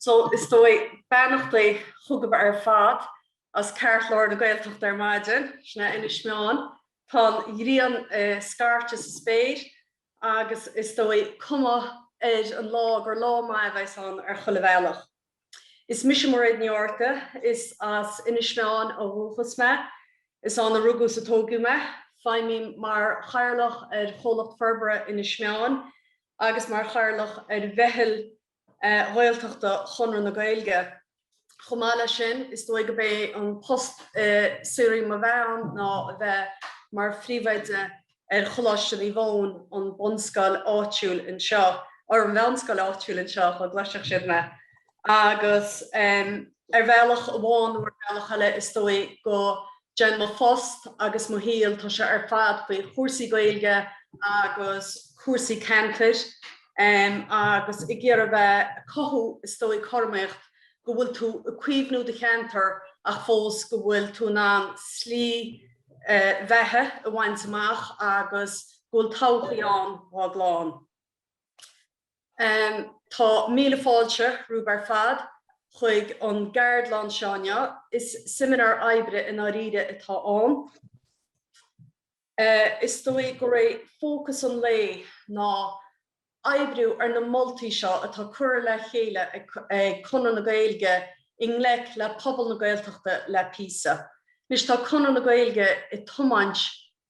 So, is dóigh, beannachtaí chugaibh ar fad as ceartlár na Gaeltachta ar maidin, sin é Inis Meáin. Tá an ghrian ag scairteadh sa spéir agus is dóigh, cuma ar an lá gur lá maith a bheas ann ar chuile bhealach. Is mise Mairéad Ní Fhátharta. Is as Inis Meáin ó dhúchas mé. Is ann a rugadh is a tóigeadh mé. Feidhmím mar Chathaoirleach ar Chomhlacht Forbartha Inis Meáin agus mar Chathaoirleach ar Mheitheal Ghaeltachta Chonradh na Gaeilge. Chomh maith leis sin, is dóigh gurb é an post saoil mo bheatha ann ná a bheith mar Phríomhoide ar Choláiste Naomh Eoin, an bhunscoil áitiúil anseo, or an mheánscoil áitiúil anseo, dá gcloisfeadh siad mé. Agus ar bhealach amháin nó ar bhealach eile, is dóigh go ndéanann mo phost agus mo shaol, tá sé ar fad faoi chúrsaí Gaeilge agus cúrsaí ceantair, agus ag iarraidh bheith, cothú, is dóigh, cothromaíocht go bhfuil tú ag caomhnú do cheantair ach fós go bhfuil tú in ann slí bheatha a bhaint amach agus go bhfuil todhchaí ann dhá chlann. Tá míle fáilte romhaibh ar fad chuig an gceardlann seo inniu. Is seimineár oibre i ndáiríre atá ann. Is dóigh gur é fócas an lae ná oibriú ar na moltaí seo atá curtha le chéile ag Conradh na Gaeilge i ngleic le pobal na Gaeltachta le píosa. Anois tá Conradh na Gaeilge ag tiomáint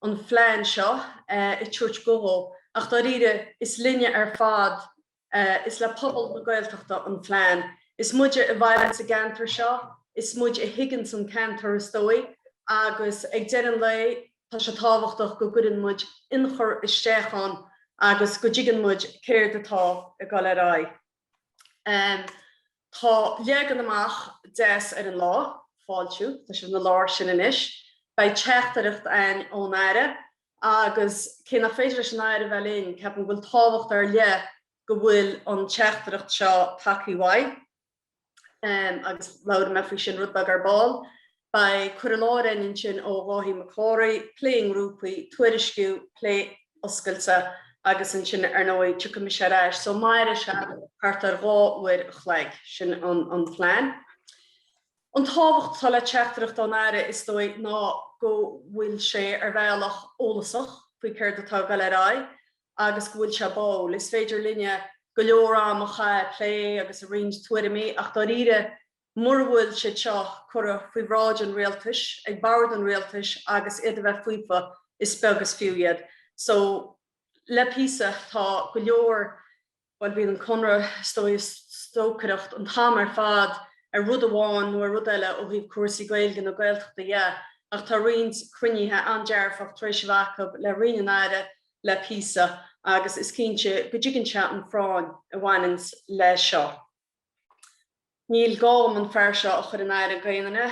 an phlean seo ag tabhairt guth dó ach dáiríre is linne ar fad Is le pobal na Gaeltachta an phlean. Is muide a mhaireann sa gceantar seo, is muid a thuigeanns an ceantar is dóigh, agus ag deireadh an lae tá sé tábhachtach go gcuireann muid ionchur isteach ann agus go dtuigeann muid céard atá ag dul ar aghaidh. Tá leagan amach deas ar an lá, fáiltiú, tá sibh ina lár sin anois. Beidh teachtaireacht ann ón Aire Agus cé nach féidir leis an Aire a bheith linn, ceapaim go bhfuil tábhacht ar leith go bhfuil an teachtaireacht seo tagthaí uaidh, agus labhróidh mé faoi sin rud beag ar ball. Beidh cur i láthair ann ansin ó Dháithí Mac Cárthaigh, plé i ngrúpaí, tuairisciú, plé oscailte, agus ansin ar ndóigh tiocfaidh mise ar ais. So mairfidh sé thart ar dhá uair a chloig, sin an plean. An tábhacht atá le teachtaireacht ón Aire, is dóigh, ná go bhfuil sé, ar bhealach, eolasach faoi céard atá ag dul ar aghaidh agus go bhfuil sé báúil. Is féidir linne go leor am a chaitheamh ag plé agus ag roinnt tuairimí ach dáiríre mura bhfuil siad seo curtha faoi bhráid an rialtais, ag bord an rialtais agus iad a bheith faofa, is beag is fiú iad. So, le píosa, tá go leor. Bhuel, bíonn an Conradh, is dóigh, ag stocaireacht an t-am ar fad ar rud amháin nó ar rud eile ó thaobh cúrsaí Gaeilge nó Gaeltachta dhe, ach tá roinnt cruinnithe an-dearfach tar éis a bheith acu le Roinn an Aire le píosa agus is cinnte go dtuigeann sé an phráinn a bhaineanns leis seo. Níl gá dhom an fear seo a chur in aithne d'aon duine.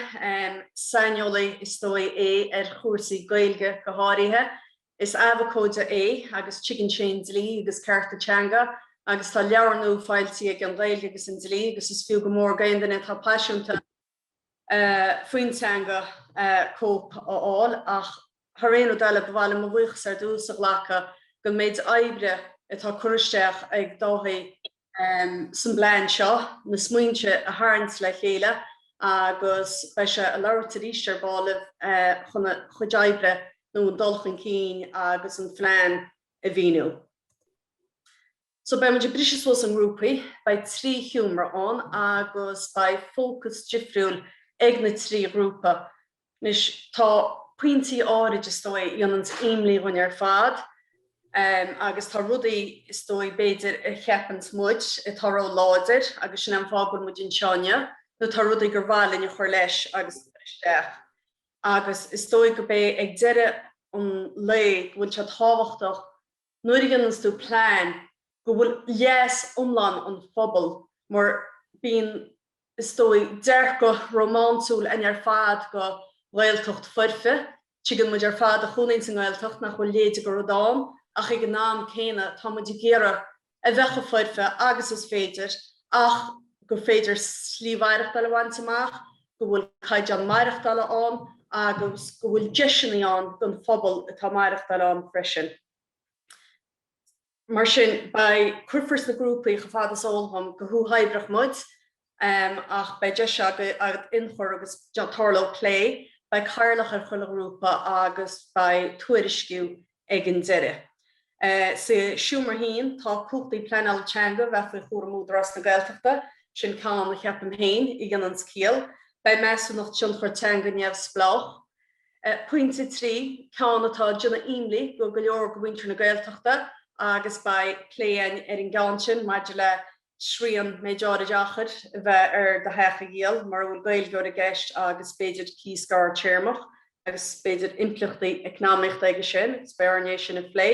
Saineolaí is dóigh é ar chúrsaí Gaeilge go háirithe. Is abhcóide é agus tuigeann sé an dlí agus cearta teanga agus tá leabhar nua foilsithe aige, An Ghaeilge agus an Dlí, agus is fiú go mór d'aon duine atá paiseanta faoin teanga cóip a fháil ach thar aon rud eile ba mhaith liom mo bhuíochas ar dtús a ghlacadh don méid oibre atá curtha isteach ag Dáithí san bplean seo na smaointe a tharraingt le chéile agus beidh sé ag labhairt arís ar ball libh chun a chuid oibre nó an dul chun cinn agus an phlean a mhíniú. So beidh muid ag briseadh suas i ngrúpaí, beidh trí sheomra ann agus beidh fócas difriúil ag na trí ghrúpa. Anois tá pointí áirid is dóigh a dhéananns imní dhúinn ar fad em agus tá rudaí is dóigh b'fhéidir a cheapanns muid atá ró láidir agus sin é an fáth go bhfuil muid anseo inniu nó tá rudaí gur mhaith linn a chur leis agus a chur isteach agus is dóigh gurb é ag deireadh an lae go bhfuil sé tábhachtach go Nuair a dhéananns tú plean go bhfuil leas iomlán an phobail mar bíonn, is dóigh, dearcadh rómánsúil againn ar fad de Ghaeltacht foirfe, tuigeann muid ar fad a chónaíonns sa nGaeltacht nach bhfuil a leithéide de rud ann ach ag an am céanna tá muid ag iarraidh a bheith chomh foirfe agus is féidir ach gur féidir slí mhaireachtáil a bhaint amach go bhfuil caighdeán maireachtála ann agus go bhfuil deiseannaí ann don phobal atá ag maireachtáil ann freisin. Mar sin, beidh, cuirfear sna grúpaí, chomh fada is eol dhom, go huathoibreach muid, ach beidh deis agat inchur agus tarlóidh plé, beidh cathaoirleach ar chuile ghrúpa agus beidh tuairisciú ag an deireadh. Sa seomra féin, tá cumhachtaí pleanála teanga a bheith faoi chúram Údarás na Gaeltachta, sin ceann, a cheapaim féin, a dhéananns ciall. Beidh Measúnacht Tionchar Teanga neamhspleách. Pointe 3, ceann atá ag déanamh imní do go leor de mhuintir na Gaeltachta agus beidh plé ar an gceann sin maidir le srian méid áirid achair a bheith ar do theach a dhíol mura bhfuil Gaeilgeoir i gceist agus b'fhéidir cíos gearr-téarmach agus b'fhéidir impleachtaí eacnamaíochta aige sin agus beidh orainn é sin a phlé.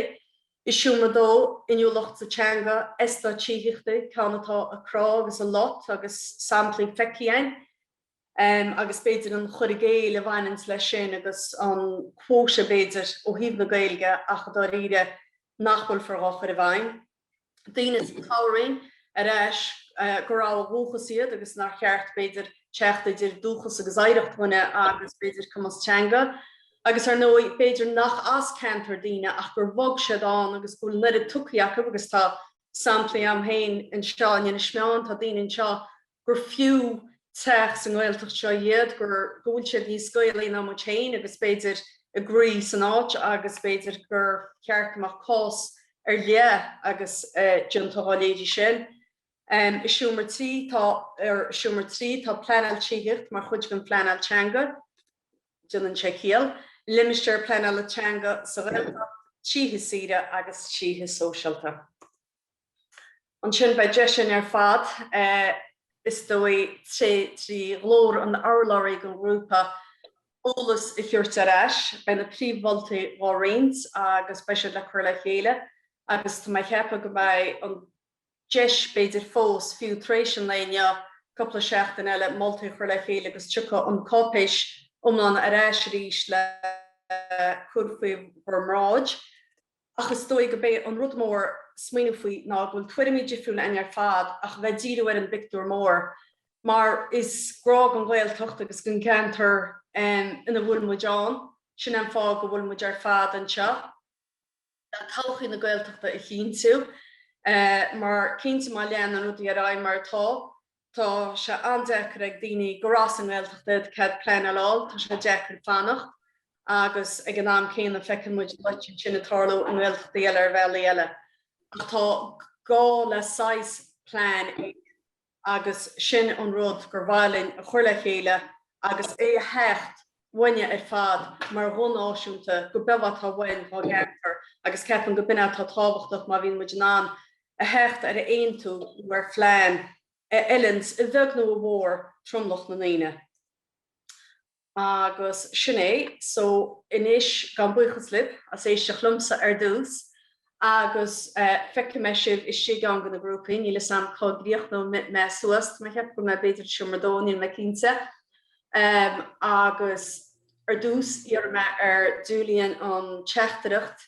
I seomra dó, inniúlacht sa teanga, eastáit tithíochta, ceann atá ag crá agus ag lot agus samplaí feicthí againn agus b'fhéidir an chur i gcéill a bhaineanns leis sin agus an quota b'fhéidir ó thaobh na Gaeilge ach dháiríre nach bhfuil far dhá chur i bhfeidhm. daoine ag tarraingt ar ais gurb ó dhúchas iad agus nár cheart, b'fhéidir, teacht idir dúchas agus oidhreacht dhuine agus, b'fhéidir, cumas teanga. Agus, ar ndóigh, b'fhéidir nach as an gceantar daoine ach gur bhog siad ann agus go bhfuil an oiread tugtha acu agus tá samplaí agam féin anseo in Inis Meáin, tá daoine anseo gur fiú teach sa nGaeltacht anseo iad, gur, go bhfuil siad níos Gaelaí ná muid féin agus b'fhéidir a gcroí san áit agus b'fhéidir gur cheart go mbeadh cás ar leith le déanamh dhá leithéidí sin. I seomra trí tá, i seomra trí tá pleanáil tithíochta mar chuid den phleanáil teanga. Déanann sé ciall. Limistéir pleanála teanga sa Ghaeltacht, títhe saoire agus títhe sóisialta. Ansin beidh deis againn ar fad, is dóigh, trí ghlór an urlabhraí don ghrúpa, eolas a thabhairt ar ais. Beidh na príomh-mholtaí dhá roinnt agus beidh siad le cur le chéile agus tá mé ag ceapadh go mbeidh an deis, b'fhéidir fós, fiú tar éis an lae inniu, cúpla seachtain eile, moltaí a chur le chéile agus tiocfaidh an cháipéis iomlán ar ais arís le cur faoi bhur mbráid. Ach is dóigh gob é an rud mór smaoineamh faoi ná go bhfuil tuairimí difriúil againn ar fad ach a bheith ag díriú ar an bpictiúr mór, mar is grá don Ghaeltacht agus don gceantar ina bhfuil muid ann, sin é an fáth go bhfuil muid ar fad anseo, le todhchaí na Gaeltachta a chinntiú. Mar cinnte má leanann rudaí ar aghaidh mar atá, Tá sé an-deacair ag daoine gur as an nGaeltacht iad cead pleanála a fháil, tá sé deacair fanacht agus ag an am céanna feiceann muid a leithéid sin ag tarlú i nGaeltachtaí eile ar bhealaí eile. Ach tá gá le saghas plean agus sin an rud gur mhaith linn a chur le chéile agus é a theacht uainne ar fad mar bhonn náisiúnta go bé atá uainn dhá gceantar agus ceapaim gob in é atá tábhachtach má bhíonn muid in ann a theacht ar a aontú nó ar phlean a fheileanns a bheag nó a mhór tromlach na ndaoine. Agus sin é. So anois, gabhaim buíochas libh as éisteacht liomsa ar dtús, agus feicfidh mé sibh istigh i gceann de na grúpaí, níl 'fhios a'm cá gcríochnóidh mé suas, tá mé ag ceapadh go mbeidh b'fhéidir i seomra a dó, níl mé cinnte. Agus ar dtús iarrfaidh mé ar Julian an teachtaireacht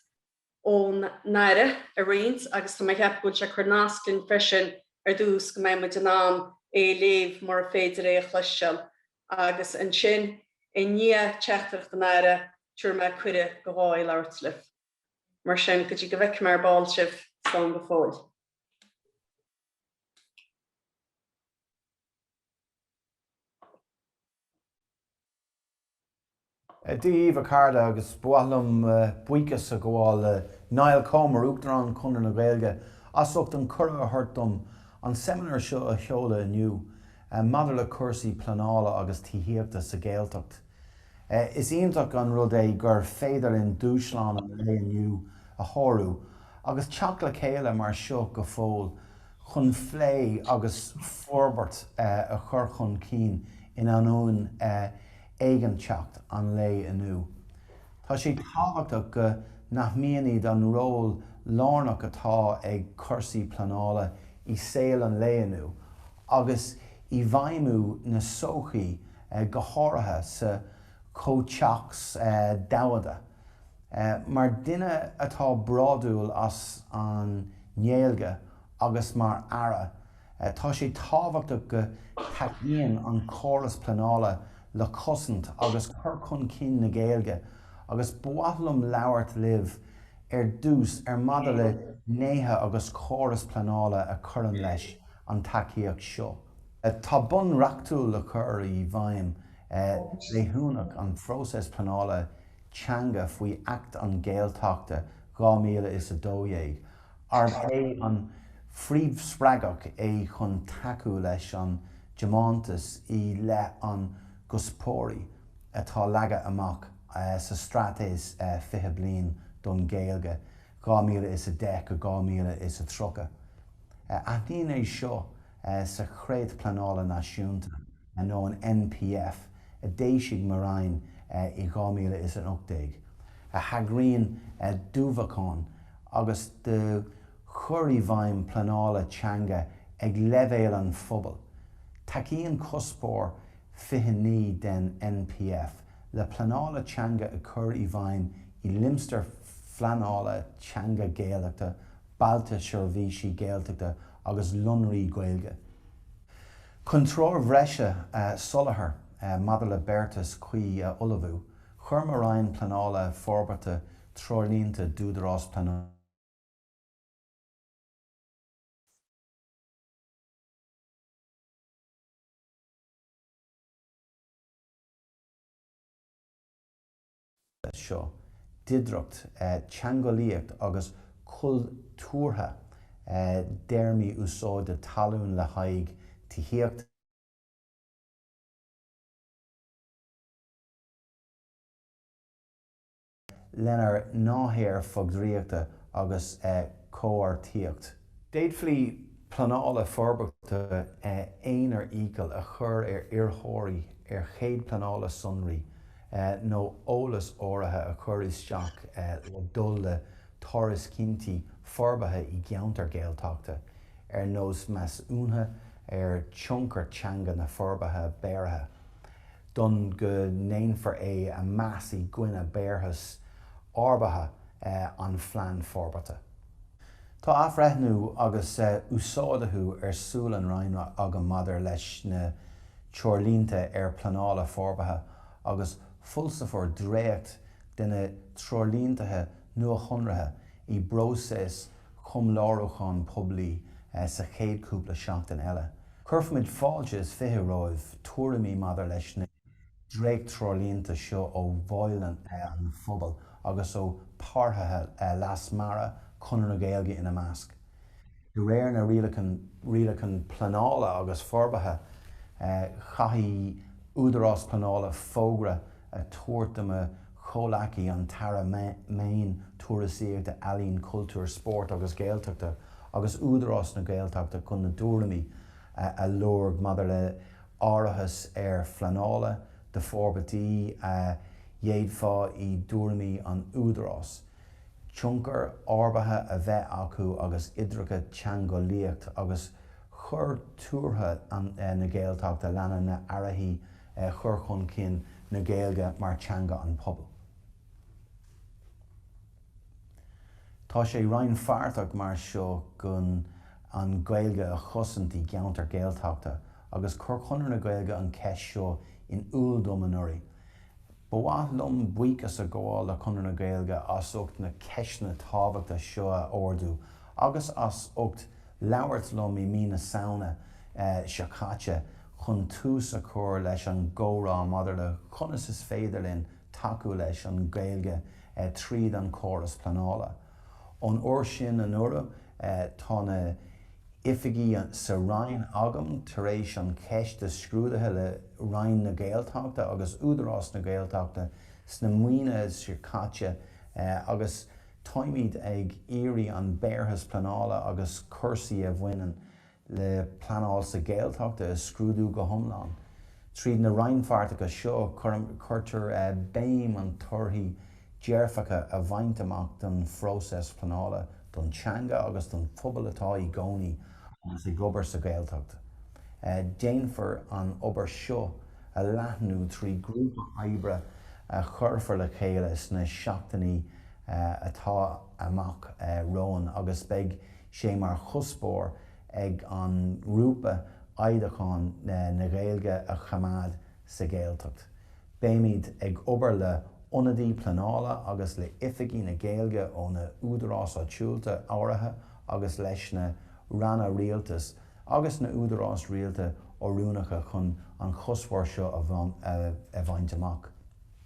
ón Aire a roinnt agus tá mé ag ceapadh go bhfuil sé ag cur nasc linn freisin ar dtús go mbeidh muid in ann é a léamh mura féidir é a chloisteáil. Agus ansin i ndiaidh teachtaireacht an Aire tabharfaidh mé cuireadh do Dháithí labhairt libh. mar sin, go dtí go bhfeicfimid ar ball sibh, slán go fóill. Dia daoibh, a chairde, agus ba mhaith liom buíochas a ghabháil le Niall Comer, Uachtarán Chonradh na Gaeilge, as ucht an cuireadh a thabhairt dom an seimineár seo a sheoladh inniu maidir le cúrsaí pleanála agus tithíochta sa Ghaeltacht. Is iontach an rud é gur féidir linn dúshlán an lae inniu a shárú agus teacht le chéile mar seo go fóill chun phlé agus forbairt a chur chun cinn in ainneoin éiginnteacht an lae inniu. Tá sé tábhachtach go n-aithnímid an ról lárnach atá ag cúrsaí pleanála i saol an lae inniu agus i bhfeidhmiú na sochaí go háirithe sa chomhthéacs domhanda. Mar dhuine atá bródúil as an nGaeilge agus mar aire, tá sé tábhachtach go dtacaíonn an córas pleanála le cosaint agus cur chun cinn na Gaeilge agus ba mhaith liom labhairt libh ar dtús ar maidir le gnéithe agus córas pleanála a chuireann leis an tacaíocht seo. Tá bonn reachtúil le cur i bhfeidhm leanúnach an phróisis pleanála teanga faoi Acht an Gaeltachta 2012, arb é an phríomhspreagadh é chun tacú leis an dtiomantas i leith an gcuspóirí atá leagtha amach sa Straitéis 20 Bliain don Ghaeilge 2010-2030. Aithníonn é seo sa Chreat Pleanála Náisiúnta nó an NPF a d'éisigh mo Roinn i 2018, a thagraíonn d'ullmhúchán agus do chur i bhfeidhm pleanála teanga ag leibhéal an phobail. Tacaíonn Cuspóir 29 den NPF le pleanála teanga a chur i bhfeidhm i limistéir phleanála teanga Gaeltachta, Bailte Seirbhísí Gaeltachta, agus Líonraí Gaeilge. Chun treoir bhreise a sholáthar maidir le beartas cuí a ullmhú, chuir mo Roinn Pleanála forbartha treoirlínte d'Údarás Pleanála. leis seo, d'oidhreacht teangeolaíocht agus cultúrtha i dtéarmaí úsáide talún le haghaidh tithíochta, lena n-áirítear fógraíochta agus comharthaíocht. D'fhéadfaí pleanála forbartha aonair iachall a chur ar iarrthóirí ar chead pleanála sonraí nó eolas áirithe a chur isteach le dul le tairiscintí forbartha i gceantar Gaeltachta, ar nós measúnuithe ar thionchar teanga na forbartha beartaithe, d'fhonn go ndéanfar é a mheas i gcoinne beartas ábhartha an Phlean Forbartha. Tá athbhreithniú agus uasdátú ar siúl an Roinn agam maidir leis na Treoirlínte ar Pleanála Forbartha agus foilseofar dréacht de na treoirlínte nuashonraithe i bpróiseas comhairliúcháin poiblí sa chéad chúpla seachtain eile. Cuirfimid fáilte is fiche roimh tuairimí maidir leis na. dréacht-treoirlínte seo ó bhaill an phobail agus ó páirtithe leasmhara, Conradh na Gaeilge ina measc. De réir na Rialacháin Pleanála agus Forbartha, chaithfidh Údarás Pleanála fógra a tabhairt do mo chomhleacaí, an tAire Meán, Turasóireachta, Ealaíon, Cultúir, Spóirt agus Gaeltachta agus Údarás na Gaeltachta chun a dtuairimí a lorg maidir le iarratas ar phleanála do forbairtí a d'fhéadfadh i dtuairimí an Údarás tionchar ábhartha a bheith acu agus oidhreacht teangeolaíocht agus cultúrtha na Gaeltachta lena n-áirítear chur chun cinn na Gaeilge mar teanga an phobail. Tá sé rannpháirteach mar seo chun an Gaeilge a chosaint i gceantar Gaeltachta agus chuir Conradh na Gaeilge an ceist seo in iúl dom anuraidh. Ba mhaith liom buíochas a ghabháil le Conradh na Gaeilge as ucht na ceisteanna tábhachta seo a ardú agus as ucht labhairt liom i mí na Samhna seo caite chun tús a chur leis an gcomhrá maidir le conas is féidir linn tacú leis an Ghaeilge tríd an chóras pleanála. Ón uair sin anuraidh, tá na hoifigí sa Roinn agam tar éis an cheist a scrúdú le Roinn na Gaeltachta agus Údarás na Gaeltachta sna míonna seo caite agus táimid ag iarraidh an beartas pleanála agus cúrsaí a bhaineann le pleanáil sa Ghaeltacht a scrúdú go hiomlán. Tríd na rannpháirteacha seo, cuirtear béim ar thorthaí dearfacha a bhaint amach don phróiseas pleanála, don teanga agus don phobal atá ina gcónaí agus ag obair sa Ghaeltacht. Déanfar an obair seo a leathnú trí grúpa oibre a chuirfear le chéile sna seachtainí atá amach romhainn agus beidh sé mar chuspóir ag an ngrúpa oidhreacht na Gaeilge a choimeád sa Ghaeltacht. Beimid ag obair le hionadaithe pleanála agus le oifigigh na Gaeilge ó na údaráis áitiúlta áirithe agus leis na ranna rialtais agus na údaráis rialta oiriúnacha chun an chuspóir seo a bhaint amach.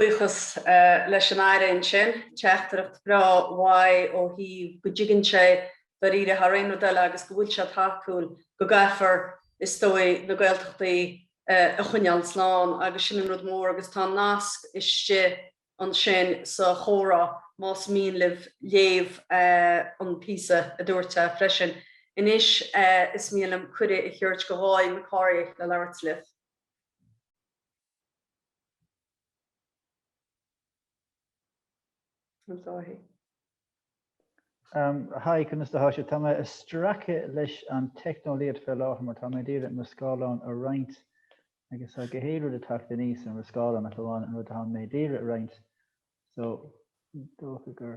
Buíochas leis an Aire ansin, teachtaireacht bhreá uaidh ó thaobh go dtuigeann sé dáiríre thar aon rud eile agus go bhfuil sé tacúil go gcaithfear, is dóigh, na Gaeltachtaí a choinneáil slán agus sin an rud mór agus tá an nasc istigh ansin sa chomhrá, más mian libh léamh an píosa, a dúirt sé freisin. Anois is mian liom cuireadh a thabhairt do Dháithí Mac Cárthaigh le labhairt libh. Hi, conas atá sibh? Tá mé ag stracadh leis an teicneolaíocht fé láthair mar tá mé ag iarraidh mo scáileán a roinnt agus tá gach aon rud ag teacht aníos ar mo scáileán ach amháin an rud atá mé ag iarraidh a roinnt so dócha gur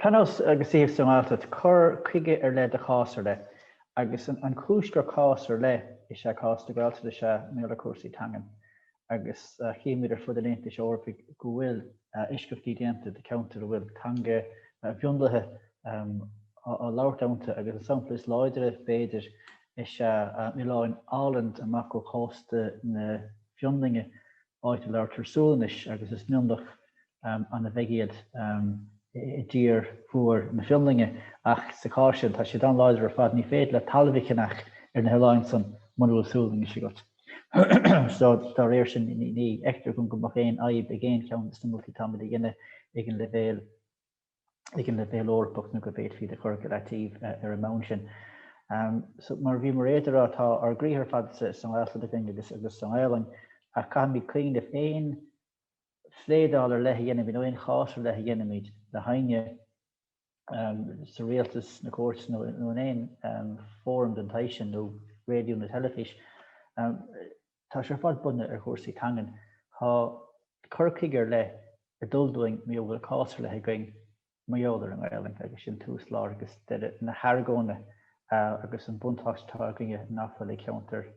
Pleanáil agus tithíocht sa nGaeltacht, cur chuige ar leith do chás ar leith. Agus an chúis gur cás ar leith is ea cás na Gaeltachta is ea maidir le cúrsaí teangan, agus chímid ar fud an Aontais Eorpaigh go bhfuil eisceachtaí déanta do cheantair a bhfuil teanga mhionlaithe á labhairt iontu, agus an sampla is láidre, b'fhéidir, is ea oileáin Åland amach ó chósta na Fionlainne. áit a labhartar Sualainnis agus is mionlach ana-bheag iad i dtír mhór na Fionlainne. Ach sa chás sin, tá siad an-láidir ar fad, ní féidir leat talamh a cheannach ar na hoileáin san muna bhfuil Sualainnis agat. So, dá réir sin, ní fheictear dhom go mbeadh aon fhadhb ag aon cheann de na moltaí atáimid a dhéanamh ag an leibhéal ag an leibhéal Eorpach nó go bhféadfaí iad a chur go leataobh ar an mbonn sin. So mar bhí Mairéad ag rá, tá ár gcroíthe ar fad sa nGaeltacht againn agus sa nGaelainn ach caithfimid cuimhneamh aon phléadáil ar leith a dhéanaimid nó aon chás ar leith a dhéanaimid le héinne sa rialtas, nó cúirt nó in aon fóram den tsaghas sin nó raidió nó teilifís, Tá sé ar fad bunaithe ar chúrsaí teangan. Tá cur chuige ar leith ag dul dúinn mar a bhfuil cás ar leith againn mar gheall ar an nGaelainn agus sin tús, lár agus deireadh na hargóna agus an buntáiste atá againne nach bhfuil ag ceantair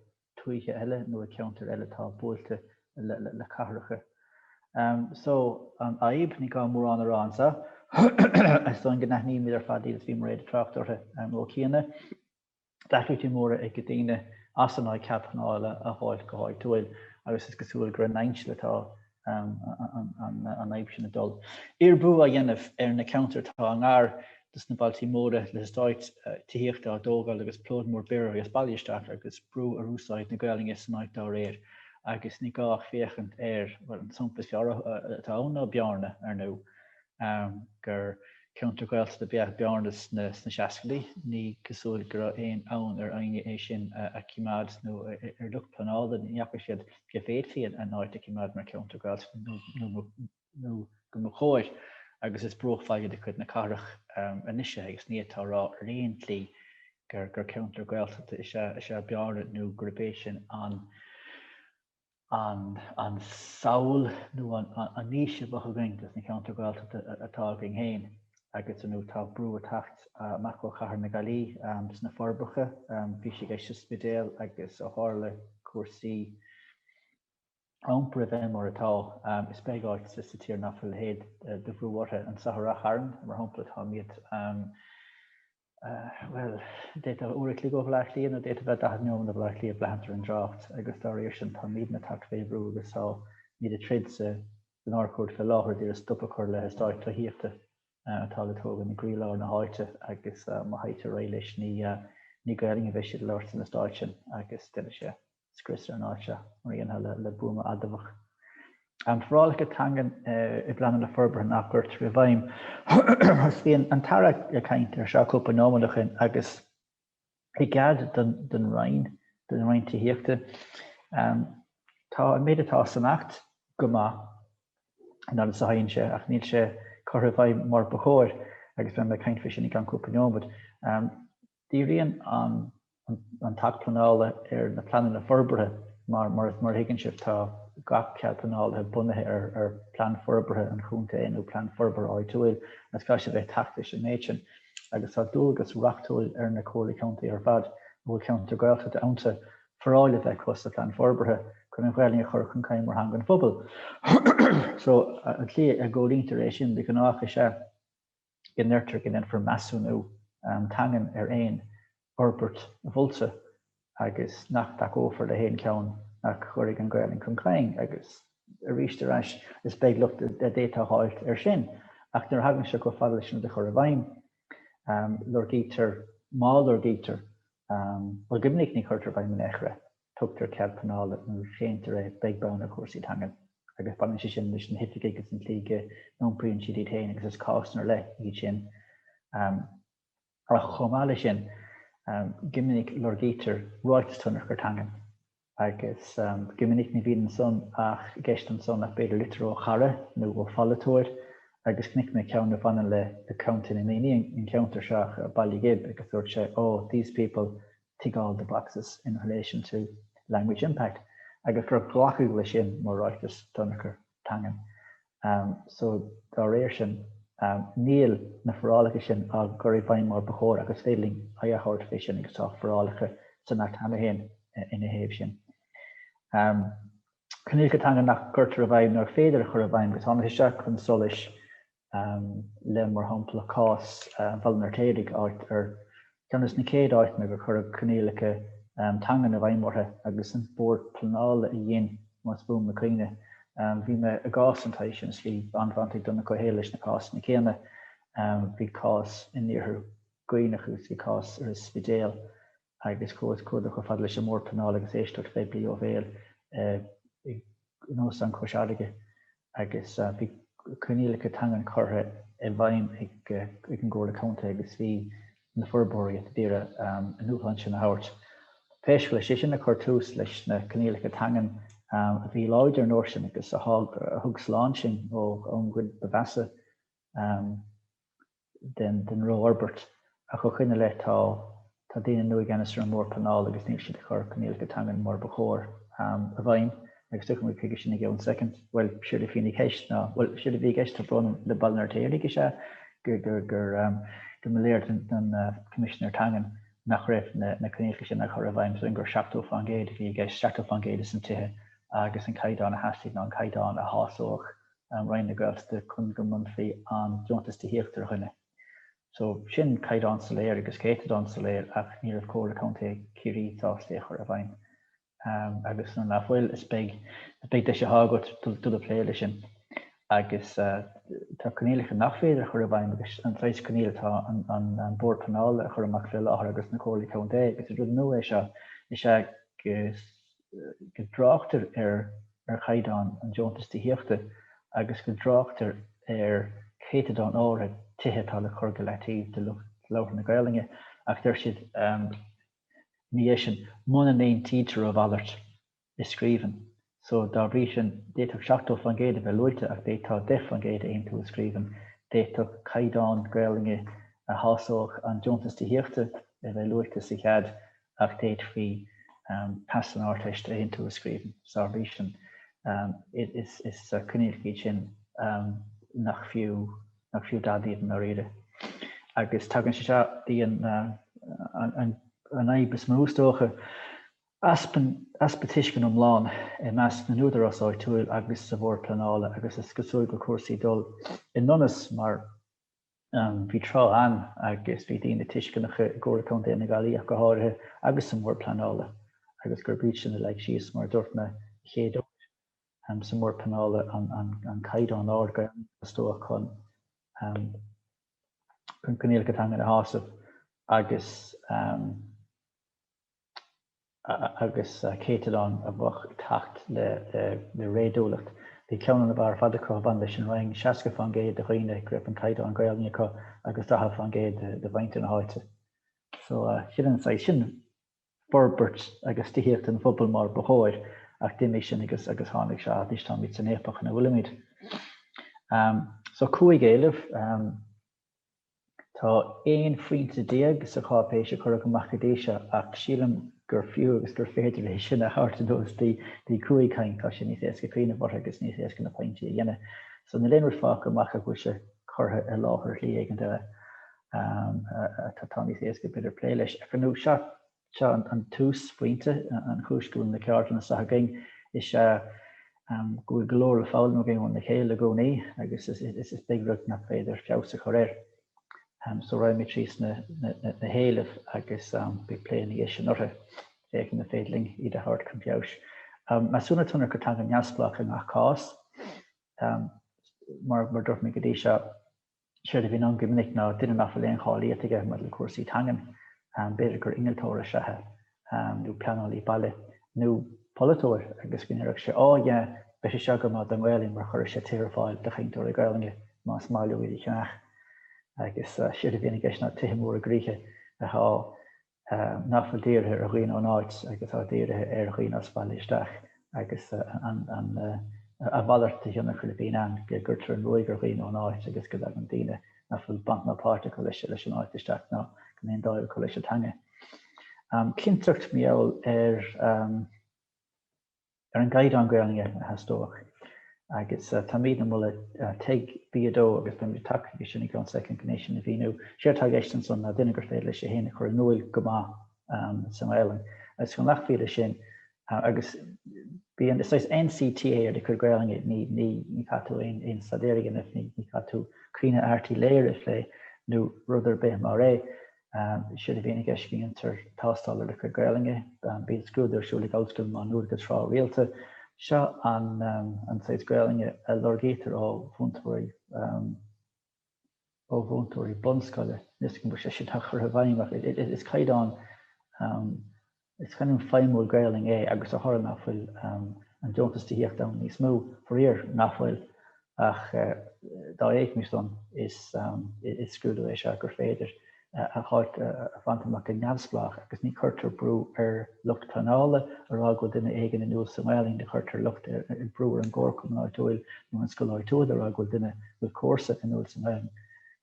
tuaithe eile nó ag ceantair eile atá buailte le cathracha. So, an fhadhb, ní gá mórán a rá anso, is dóigh go n-aithnímid ar fad iad is bhí Mairéad ag trácht orthu ó chianaibh, deacrachtaí móra ag daoine as an áit cead pleanála a dh'fháilt go háitiúil, agus is cosúil gur in ainsil atá an fhadhb sin ag dul. Uirbiú á dhéanamh ar na ceantair atá i ngar do sna bailtí móra, le heastáit tithíochta á dtógáil agus plód mór daonra as baile isteach, agus brú ar úsáid na Gaelainne san áit dá réir. Agus ní gá ach féachaint ar, bhuel, an sampla is fearr atá ann ná Bearna, ar ndóigh. gur ceantar Gaeltachta ab ea Bearna sna seascaidí. Ní cosúil go raibh aon fhonn ar éinne é sin a chimeád nó ar lucht pleanála ní fhaca siad go bhféadfaí an áit a chimeád mar cheantar Gaeltachta nó go mba chóir agus is bruachbhaile de chuid na cathrach anois é agus ní fhéadfá a rá ar aon tslí gur ceantar Gaeltachta is ea Bearna nó gurb é sin an an samhail nó an fhís a bheadh againn dos na ceantair Ghaeltachta atá againn féin agus ar ndóigh tá brú ag teacht amach ó chathair na Gaillí sna Forbacha, bhí sé i gceist sa Spidéal agus ó tharla cúrsaí iompair a bheith mar atá, is beag áit sa tír nach bhfuil a leithéid de bhrú orthu. Anso i Ráth Chairn, mar shampla, táimid. Bhuel, d'fhéadfá uair a chloig ó Bhleá Cliath nó d'fhéadfá bheith daichead neomad ó Bhleá Cliath ag braithint ar an dtrácht agus dá réir sin táimídne tagtha fé bhrú agus táimíd ag troid sa nÁrd-Chúirt fé láthair d'iarraidh stop a chur le heastáit tithíochta atá le tógaint i gcroí-lár na háite agus má théitear ar aghaidh leis ní Gaelainn a bheidh siad a labhairt san eastáit sin agus déanfaidh sé. scrios ar an áit seo, mar a dhéanfá le buama adamhach. An forálacha teangan i bpleananna forbartha nach gcuirtear i bhfeidhm. Bhí an tAire ag caint air seo cúpla nóiméad ó shin agus i gcead don Roinn, don Roinn Tithíochta, tá an méid atá san Acht go maith an fhaid is a théann sé ach níl sé á chur i bhfeidhm mar ba chóir agus beidh mé ag caint faoi sin i gceann cúpla nóiméad. Díríonn an an tAcht Pleanála ar na pleananna forbartha mar, mar a thuigeann sibh, tá gach cead pleanála bunaithe ar ar Phlean Forbartha an Chontae nó Plean Forbartha Áitiúil agus caithfidh sé a bheith ag teacht leis an méid sin agus tá dualgas reachtúil ar na Comhairlí Contae ar fad a bhfuil ceantar Gaeltachta iontu foráil a bheith acu sa Phlean Forbartha chun an Ghaelainn a chur chun cinn mar theanga an phobail. So an tslí a gcomhlíontar é sin de ghnáth is ea, go ndeirtear go ndéanfar measúnú teangan ar aon fhorbairt mholta agus nach dtacófar le haon cheann nach gcuirfidh an Ghaelainn chun cinn agus arís ar ais is beag locht a d'fhéadfá a fháilt air sin. Ach nuair a thagann sé chomh fada leis an rud a chur i bhfeidhm, lorgaítear, má lorgaítear, bhuel, go minic ní chuirtear i bhfeidhm in aon chor é. tugtar cead pleanála nó séantar é, beag beann ar chúrsaí teanga. Agus baineann sé sin leis na hoifigigh agus an tslí go n-iompraíonn siad iad féin agus is cásanna ar leith iad sin. Ach chomh maith leis sin, go minic lorgaítear ráiteas tionchair teangan agus go minic ní bhíonn ansan i gceist ansan ach b'fhéidir litir ó chara nó ó pholaiteoir agus chonaic mé ceann a bhaineann le Contae na Mí, an ceantar seo, Baile Ghib agus dúirt sé 'oh, these people tick all the boxes in relation to language impact, agus gur glacadh leis sin mar ráiteas tionchair teangan. So, dá réir sin, níl na forálacha sin á gcur i bhfeidhm mar ba chóir agus is féidir linn aghaidh a thabhairt fé sin agus tá forálacha san Acht cheana féin ina thaobh sin. Coinníollacha teanga nach gcuirtear i bhfeidhm nó ar féidir a chur i bhfeidhm agus tá sé ag teacht chun solais le, mar shampla, cás Bhaile an Fheirtéaraigh, áit ar cheann des na chéad áiteanna gur cuireadh coinníollacha teangan i bhfeidhm orthu agus an Bord Pleanála a dhein, más buan mo chuimhne. Bhí mé i gcás den tsaghas sin, is bhí an-bhaint ag Donncha Ó hÉallaithe leis na cásanna céanna. Bhí cás in iarthar Dhuibhneach agus bhí cás ar an Spidéal. agus chuaigh sé chomh fada leis an mBord Pleanála agus éisteacht phoiblí ó bhéal in Óstán Chois Fharraige agus bhí coinníollacha teangan curtha i bhfeidhm ag an gComhairle Contae agus bhí na forbróirí a d'iarraidh a ndúshlán sin a thabhairt. Pé scéal é, is é sin a chuir tús leis na coinníollacha teangan a bhí láidir an uair sin agus a thug slán sinn ón gcuid ba mheasa den rófhorbairt. Ach ó shoin i leith tá tá daoine nua i gceannas ar an mBord Pleanála agus níl siad ag cur coinníollacha teangan mar ba chóir i bhfeidhm agus tiocfaimid chuige sin i gceann soicind. Bhuel, séard a bhíonn i gceist ná, bhuel, séard a bhí i gceist, tá brón orm, le Baile an Fheirtéaraigh is ea gur gur gur gur mba léir don Choimisinéir Teangan nach raibh na na coinníollacha sin á chur i bhfeidhm, so gur 70% a bhí i gceist, 70% de na tithe agus an caighdeán a theastaigh ná an caighdeán a shásódh an an Roinn na Gaeltachta chun go mbronnfaí an deontas tithíochta ar dhuine. So, sin caighdeán soiléir agus céatadán soiléir ach ní raibh Comhairle Contae Chiarraí sásta é a chur i bhfeidhm. Agus nuair nach bhfuil, is beag deis atá agat dul ag plé leis sin. Agus tá coinníollacha nach féidir a chur i bhfeidhm agus an saghas coinníoll atá an Bord Pleanála a chur amach faoi láthair agus na Comhairlí Contae agus is rud nua é seo is ea go go dtráchtar ar chaighdeán an deontais tithíochta agus go dtráchtar ar chéatadán áirithe tithe atá le cur go leataobh do lucht labhartha na Gaolainne ach deir siad ina dhiaidh sin, muna n-aontaítear a mhalairt i scríbhinn. So, dá bhrí sin, d'fhéadfadh 70% a bheith luaite ach d'fhéadfá 10% a aontú i scríbhinn. D'fhéadfadh caighdeán Gaolainne a shásódh an deontas tithíochta a bheith luaite sa chead ach d'fhéadfaí pas san Ardteist a aontú i scríbhinn, so dá bhrí sin. Is coinníollacha iad sin nach fiú dadaí iad i ndáiríre. Agus tagann sé seo dtí an fhadhb is mó, is dócha, easpa tuisceana iomlán i measc na n-údarás áitiúil agus sa Bhord Pleanála agus is cosúil go bhfuil cúrsaí ag dul i ndonas mar Bhí tráth ann, agus bhí daoine tuisceanacha i gComhairle Contae na Gaillimhe ach go háirithe agus sa mBord Pleanála, agus gurb iadsan a leag síos, mar a dúirt mé, an chéad uair sa mBord Pleanála, an caighdeán ard Gaeilge a theastódh chun coinníollacha teangan a shásamh agus. agus céatadán a bheadh ag teacht le réadúlacht. Bhí ceann ab fhearr ar fad acu a bhain leis an Rinn, 60% de dhaoine go raibh an caighdeán Gaelainne acu agus 40% de mhuintir na háite. So chinn an saghas sin forbairt agus tithíocht an phobail mar ba chóir, ach d'imigh sin agus tháinig seo anois, táimid san fhaopach ina bhfuilimid. So cúig éileamh. Tá aon phointe déag sa cháipéis a cuireadh amach go dtí seo, ach sílim gur fiú agus gur féidir é sin a thabhairt anuas dtí cúig cinn, tá sé níos éasca cuimhneamh orthu agus níos éasca na pointí a dhéanamh. So níl aon rud fágtha amach ach go bhfuil sé curtha i láthair ar shlí éigin eile atá níos éasca b'fhéidir plé leis ag cruinniú seachas. Seo an chéad phointe. An chúis go bhfuil na ceardlanna seo againn is ea go bhfuil go leor le foghlaim againn óna chéile i gcónaí agus is beag rud nach féidir feabhas a chur air. So raghaidh mé tríd na héilimh agus beidh plé ina dhiaidh sin orthu, féachaint an féidir linn iad a thabhairt chun feabhais. Measúnú tionchar teanga neamhspleách i ngach cás. Mar a dúirt mé go dtí seo, Séard a bhíonn ann go minic ná duine nach bhfuil aon cháilíocht aige maidir le cúrsaí teangan, b'fhéidir gur innealtóir is ea é, nó pleanálaí baile, nó polaiteoir, agus go ndéarfadh sé, 'Á, yeah, beidh sé seo go maith don nGaelainn mar chuirfidh sé tithe ar fáil do chainteoirí Gaelainne más maith leo iad a cheannach'. Agus séard a bhíonn i gceist ná tithe móra i gcrích atá nach bhfuil dírithe ar dhaoine ón áit agus atá dírithe ar dhaoine as baile isteach agus a mhalairt de thionchar a bhíonn ann go gcuirtear an ruaig ar dhaoine ón áit agus go dtagann daoine nach bhfuil baint ná páirt acu leis leis an áit isteach ná go mbíonn dáimh acu leis an teanga. Cinnteacht, más ea, ar ar an gcaighdeán Gaolainne a theastódh agus táimíd ag moladh TEG B2 agus beidh mé ag teacht chuige sin i gceann soicind chun é sin a mhíniú. Séard atá i gceist ansan ná duine gur féidir leis é féin a chur in úil go maith sa nGaolainn agus go nglacfaí leis sin agus bíonn, is saghas NCT ar do chuid Gaolainne, ní ní ní chaithfidh tú aon aon staidéar a dhéanamh, ní ní chaithfidh tú Caoineadh Airt Uí Laoghaire a phlé nó rud ar bith mar é. Séard a bhíonn i gceist ann ná tástáil ar do chuid Gaelainne. Bíonn scrúdú ar siúl ag Ollscoil Má Nuad go tráth rialta. Seo an saghas Gaelainne a lorgaítear ó mhúinteoirí bunscoile. Níl a fhios agam go bhfuil sé sin á chur i bhfeidhm ach is caighdeán is caighdeán feidhmiúil Gaelainne é agus de thoradh ná fuil an deontas tithíochta ann níos mó, faraor ná fuil, ach dá éagmais san, is scrúdú é seo gur féidir a thoradh a bhaint amach go neamhspleách agus ní chuirtear brú ar lucht pleanála a rá go bhfuil duine éigin inniúil sa nGaelainn, ní chuirtear lucht, brú ar an gcomharchumann áitiúil nó an scoil áitiúil a rá go bhfuil duine, go bhfuil comharsa inniúil sa nGaelainn.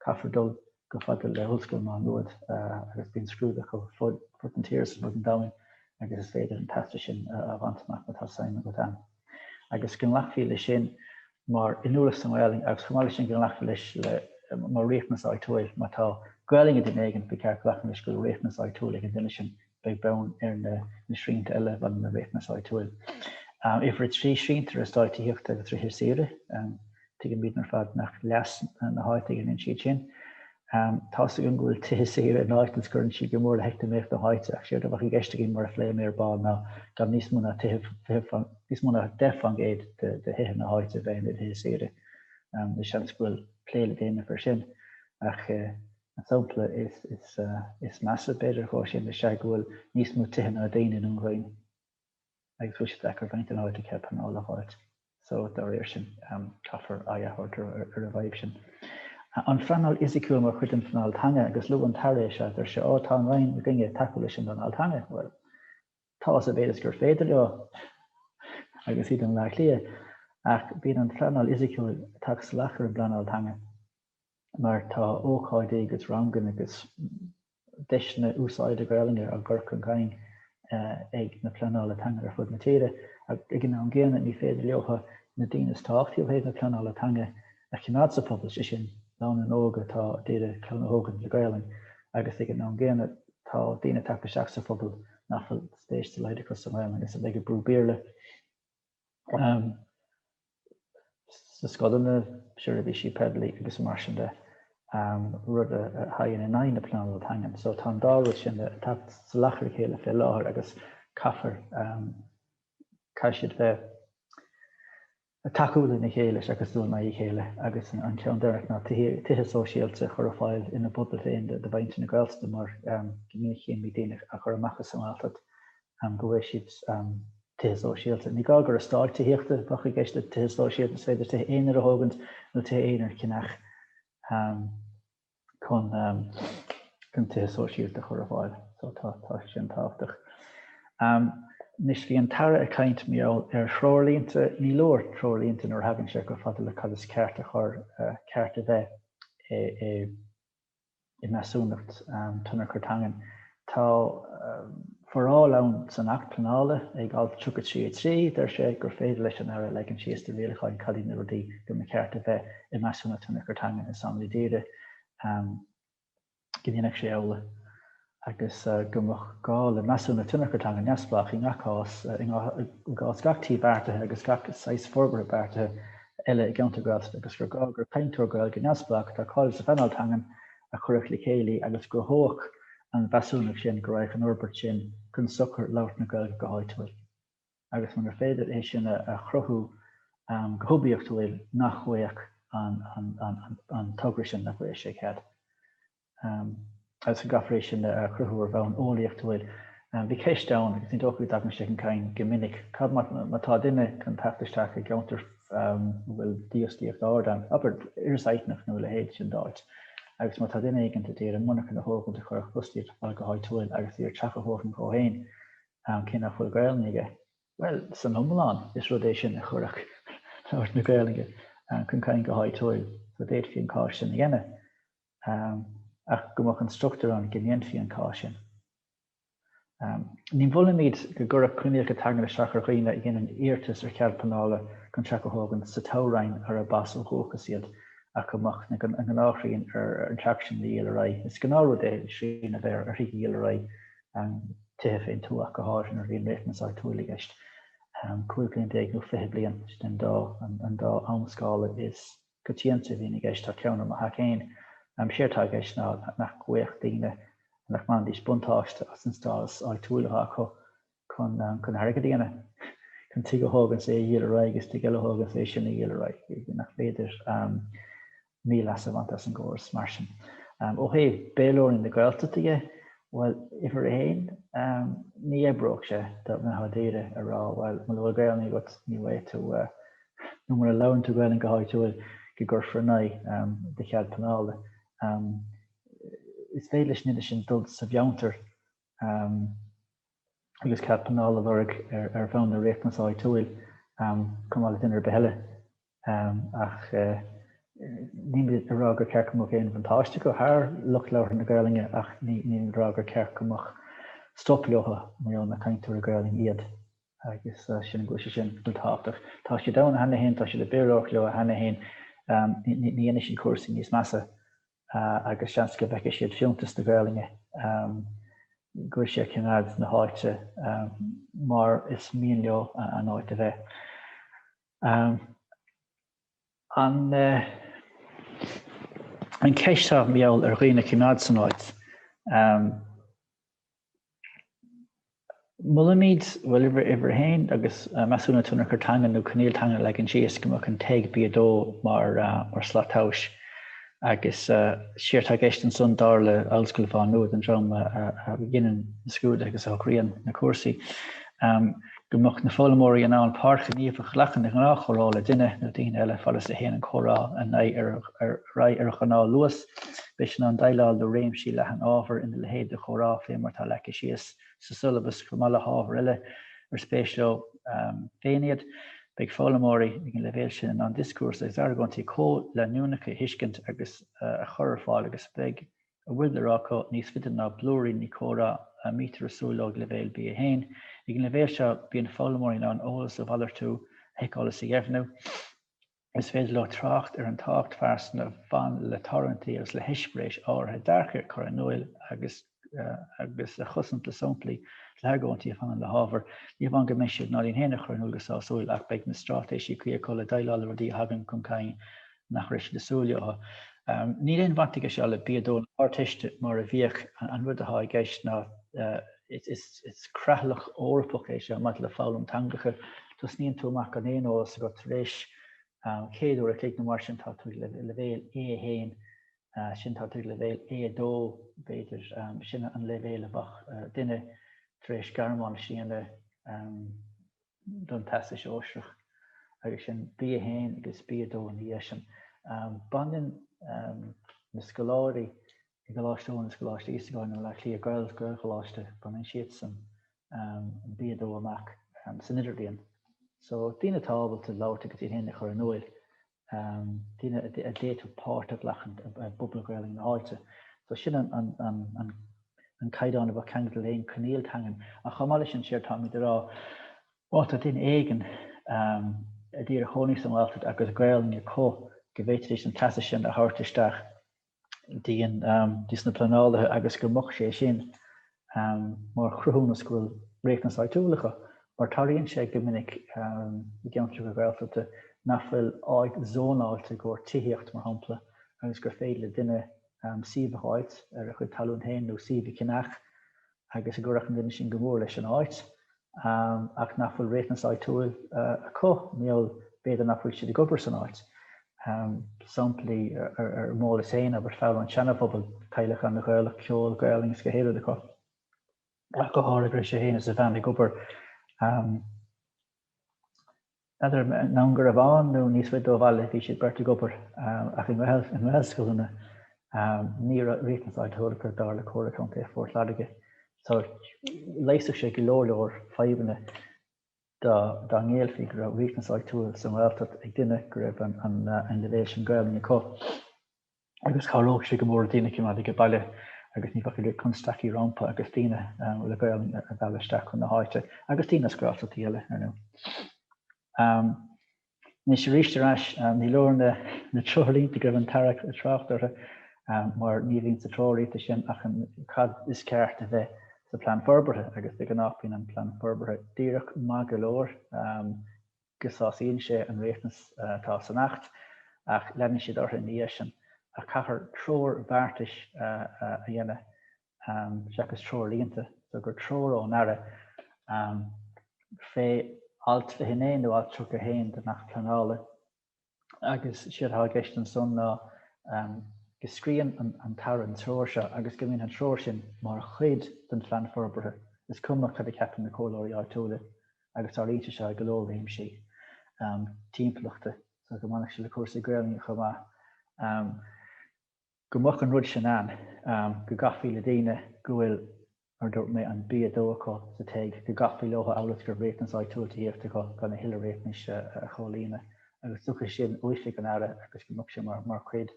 Caithfear dul. chomh fada le hOllscoil Má Nuad agus bíonn scrúduithe ar fud na tíre is ar fud an domhain agus is féidir an teastas sin a bhaint amach má tá suim agat ann. Agus go nglacfaí leis sin mar inniúlacht sa nGaelainn agus chomh maith leis sin go nglacfaí leis mar riachtanas áitiúil má tá Gaelainn ag duine éigin, ba cheart glacadh leis go bhfuil riachtanas áitiúil ag an duine sin beag beann ar na srianta eile maidir le riachtanas áitiúil. Uimhir a trí, srianta ar eastáit tithíochta agus tithe saoire. Tuigimid ar fad nach leas na háite a dhéanann siad sin. Tá's againn go bhfuil tithe saoire in áit is cuireann siad go mór le heacnamaíocht na háite, ach séard a bheadh i gceist againn mar a phléigh mé ar ball ná gan níos mó ná níos mó ná 10% de thithe na háite a bheith ina dtithe saoire. Is seans go bhfuil plé le déanamh air sin, ach An sampla is measa, b'fhéidir, de sin ná go bhfuil níos mó tithe ná daoine i nDún Chaoin agus bhfuil siad deacair a bhaint den áit a cheapfar an fháil a dh'áit. So, dá réir sin, caithfear aghaidh a thabhairt ar an bhfadhb sin. An phleanáil fhisiciúil mar chuid den phleanáil teanga, agus luadh an tAire é seo, deir sé, 'Á, tá an Roinn i gcoinne tacú leis an bpleanáil teanga'. Bhuel, tá, os a mhéad is gur féidir leo, agus iad in Baile Átha Cliath, ach bíonn an phleanáil fhisiciúil ag teacht salach ar an bpleanáil teanga. mar tá ócáidí agus ranganna agus deiseanna úsáide Gaelainne á gcur chun cinn ag na pleanálaithe teanga ar fud na tíre, ag an am gcéanna ní féidir leotha na daoine is tábhachtaí ó thaobh na pleanála teanga a choimeád sa phobal, sé sin, lánúna óga atá ag iarraidh clann a thógaint le Gaelainn, agus ag an am gcéanna tá daoine tagtha isteach sa phobal nach bhfuil spéis dá laghad acu sa nGaelainn agus a bheidh ag brú Béarla. sna scoileanna, seirbhísí poiblí agus mar sin de, rud a thagann in aghaidh na pleanála teangan. So tá an dá rud sin ag teacht salach ar a chéile fé láthair agus caithfear, caithfidh siad bheith ag tacú lena chéile seachas ag dul in aghaidh a chéile agus an ceann deireanach ná tithe sóisialta a chur ar fáil ina bpobail féin do mhuintir na Gaeltachta mar go minic cé an bhrí daoine a chur amach as an nGaeltacht go bhfaighidh siad tithe sóisialta. Ní gá gur eastáit tithíochta a bheadh i gceist le tithe sóisialta, is féidir tithe aonair a thógaint nó tithe aonair a cheannach chun tithe sóisialta a chur ar fáil. So tá sin tábhachtach. Anois bhí an tAire ag caint, mm, ar threoirlínte, ní leor treoirlínte nuair a thagann sé chomh fada le cad is ceart a chur, ceart a bheith i. i measúnacht tionchar teangan. Tá foráil ann san Acht Pleanála, ag Alt 33 (3), deir sé gur féidir leis an Aire a leagan síos trí rialacháin cad iad na rudaí go mba cheart a bheith i measúnacht tionchar teangan is táimid ag iarraidh go ndéanfadh sé amhlaidh, agus go mbeadh gá le measúnacht tionchair teanga neamhspleách i ngach cás, i gcás gach tí beartaithe agus gach saghas forbartha beartaithe eile i gceantar Gaeltachta, agus gur gá gur cainteoir Gaeilge neamhspleách atá cáilithe sa phleanáil teangan a chuirfeadh le chéile agus gcruthódh an mheasúnacht sin go raghadh an fhorbairt sin chun sochair labhairt na Gaeilge go háitiúil. Agus munar féidir é sin a chruthú go hoibiachtúil, nach bhfaigheadh an togra sin, nach bhfaigheadh sé cead. agus go gcaithfear é sin a chruthú ar bhonn eolaíochtúil. Bhuel, bhí ceist ann, agus ní dócha go dtagann sé chun cinn go minic, cad má tá duine chun teacht isteach i gceantar a bhfuil dífhostaíocht ard ann, abair Iorras Aithneach nó a leithéid sin d'áit, agus má tá duine éigin ag iarraidh monarcha a thógaint a chuirfeadh fostaíocht ar fáil go háitiúil agus ag iarraidh teach a thógaint dhó féin, cé nach bhfuil Gaolainn aige? Bhuel, san iomlán, is rud é sin a chuirfeadh labhairt na Gaolainne chun cinn go háitiúil, so d'fhéadfaí an cás sin a dhéanamh. ach go mbeadh an struchtúr ann go ndéanfaí an cás sin. Ní mholaimid go gcuirfeadh coinníollacha teanga isteach ar dhaoine a dhéanann iarratas ar chead pleanála chun teach a thógaint sa toghroinn arb as ó dhúchas iad ach go mbeadh an ghnáthsrian ar an teach sin a dhíol ar aghaidh. Is gnáth-rud é srian a bheith ar thithe a dhíol ar aghaidh, tithe fén tuath go háirithe nuair a bhíonn riachtanas áitiúil i gceist. 15 bliain nó 20 bliain, sin an dá am-scála is coitianta a bhíonn i gceist, tá ceann i mo theach féin. Is éard atá i gceist ná nach gcuirfeadh daoine, nach mbainfidís buntáiste as an stádas áitiúil atá acu chun airgead a dhéanamh, chun tigh a thógaint, is é a dhíol ar aghaidh, is tigh eile a thógaint, is é sin a dhíol ar aghaidh, nach féidir mí-leas a bhaint as an gcóras mar sin. Ó thaobh Béarlóirí na Gaeltachta dhe, bhuel, uimhir a haon, ní oibreodh sé, dá mbeadh daoine ag rá, bhuel, muna bhfuil Gaolainn agat, ní bhfaighidh tú, nó mura labhrann tú Gaelainn go háitiúil, go gcuirfear in aghaidh do chead pleanála. Is féidir leis an duine sin dul sa cheantar agus cead pleanála a lorg ar bhonn an riachtanais áitiúil, chomh maith le duine ar bith eile. Ach nílimid ag rá gur ceart go mbeadh aon bhuntáiste acu thar lucht labhartha na Gaelainne ach nílimid ag rá gur ceart go mbeadh stop leo murab cainteoirí Gaelainne iad. agus sin an gcúis sin tábhachtach. Tá siad ann cheana féin, tá siad ag Béarlóireacht leo cheana féin, ní dhéanfaidh siad cúrsaí níos measa agus seans go bhfeicfidh siad fiúntas na Gaelainne go bhfuil sé ag coimeád na háite mar is mian leo an áit a bheith. An cheist atá an mbeadh ar dhaoine coimeád san áit, Molaimid bhuel uimhir uimhir a haon agus measúnú tionchar teanga nó coinníoll teanga a leagan síos go mbeadh an TEG B2 mar mar slat tomhais agus séard atá i gceist ansan dar le Ollscoil Mhá Nuad an dream a dhéanann na scrúduithe agus a shocraíonn na cúrsaí. go mbeadh na foghlaimeoirí in ann páirt ghníomhach a ghlacadh i ngnáthchomhrá le duine nó daoine eile, fad is a théann an comhrá ar aghaidh ar ghnáthluas. Beidh siad in ann déileáil le réimse leathan ábhar ina leithéid de chomhrá, fé mar atá leagtha síos sa siollabas, chomh maith le hábhair eile ar spéis leo féin iad. Beidh foghlaimeoirí ag an leibhéal sin in ann dioscúrsa agus argóintí comhleanúnacha a thuiscint agus a chur ar fáil agus beidh a bhfuil le rá acu níos faide ná blúiríní comhrá a mbítear ag súil leo ag leibhéal B1. Ag an leibhéal seo, bíonn foghlaimeoirí in ann eolas a mhalartú, a sheiceáil is a dheimhniú. Is féidir leo trácht ar an tábhacht phearsanta a bhain le tarlúintí agus le heispéiris áirithe, dearcthaí a chur in iúl agus agus a chosaint le samplaí is le hargóintí a bhaineann le hábhar. Ní hamháin go mbeidh siad in ann iad féin a chur in iúl go sásúil ach beidh na straitéisí cuí acu le déileáil le rudaí a thagann chun cinn nach raibh siad ag súil leo. Níl aon bhaint aige seo le B2 na hArdteiste mar a bhíodh, an rud atá i gceist ná is creatlach Eorpach é seo maidir le foghlaim teangacha, tosnaíonn tú amach gan aon eolas agat, tar éis céad uair a chloig nó mar sin tá tú ag leibhéal A1, ansin tá tú ag leibhéal A2 b'fhéidir, sin an leibhéal a bheadh duine tar éis Gearmáinis a dhéanamh. don Teastas Sóisearach agus sin B1 agus B2 ina dhiaidh sin. Baineann na scoláirí i gColáiste Eoin agus Coláiste Íosagáin i mBaile Átha Cliath, Gael, Gaelcholáiste, baineann siadsan an B2 amach san Idirbhliain. So, daoine atá ábalta labhairt agus iad féin a chur in iúl, daoine a d'fhéadfadh páirt a ghlacadh i bpobal Gaelainne na háite. So sin an caighdeán a bheadh ceangailte le haon coinníoll teangan. Ach chomh maith leis sin, séard táimid a rá, má tá duine éigin a d'iarraidh cónaí sa nGaeltacht agus Gaelainne acu, go bhféadfaidís an teastas sin a thabhairt isteach dtí an, dtís na pleanálaithe agus go mbeadh sé sin mar chruthúnas go bhfuil riachtanas áitiúil acu, mar tarlaíonn sé go minic i gceantracha Gaeltachta nach bhfuil áit zónáilte i gcomhair tithíocht, mar shampla, agus gur féidir le duine suíomh a fháilt ar a chuid talún féin nó suíomh a cheannach, agus go gcuirfeadh an duine sin go mór leis an áit, ach nach bhfuil riachtanas áitiúil acu, nó b'fhéidir nach bhfuil siad ag obair san áit. Samplaí ar m'eolas féin ab ea fear ón Seana-Phobal, teaghlach ana-Ghaelach, ceol, Gaolainn is gach aon rud acu, ach go háirid, go raibh sé féin is a bhean ag obair i nDún Garbhán nó níos faide ó bhaile, bhí siad beirt ag obair ach i ngaelscoileanna. Ní raibh riachtanas áitiúil acu, dar le Comhairle Contae Phort Láirge, so, leigheasfadh sé go leor leor fadhbanna dá ngéillfí go raibh riachtanas áitiúil sa nGaeltacht ag duine go raibh an leibhéal sin Gaelainne acu. agus chabhródh sé go mór le daoine a choimeád aige baile agus ní bheadh constaicí rómpa agus daoine le Gaolainn a mhealladh isteach chun na háite, agus daoine as Gaeltachtaí eile, ar ndú. Anois arís ar ais, ní leor na treoirlínte go raibh an tAire ag trácht orthu mar ní bhíonn sa treoirlínte sin ach an cad is ceart a bheith sa Plean Forbartha agus de ghnáth bíonn an Plean Forbartha díreach maith go leor. go sásaíonn sé an riachtanas atá san Acht, ach leanann siad orthu ina dhiaidh sin, ach caithfear treoir bheartais a dhéanamh seachas treoirlínte, so gur treoir ón Aire fé alt 29 nó alt 31 den Acht Pleanála. agus séard atá i gceist ansan ná go scríobhann an tAire an treoir seo agus go mbíonn an treoir sin mar chuid den phlean forbartha, is cuma cad a cheapann na comhairleoirí áitiúla agus tarlaíonn sé seo i go leor réimsí timpeallachta, so go mbainfeadh sé le cúrsaí Gaelainne chomh maith. Go mbeadh an rud sin ann, go gcaithfí le daoine go bhfuil, mar a dúirt mé, an B2 acu sa TEG, go gcaithfí leotha amhail is go raibh riachtanas áitiúil tithíochta acu gan a thuilleadh riachtanais a chomhlíonadh, agus go dtiocfadh sé sin ó oifig an Aire agus go mbeadh sé mar chuid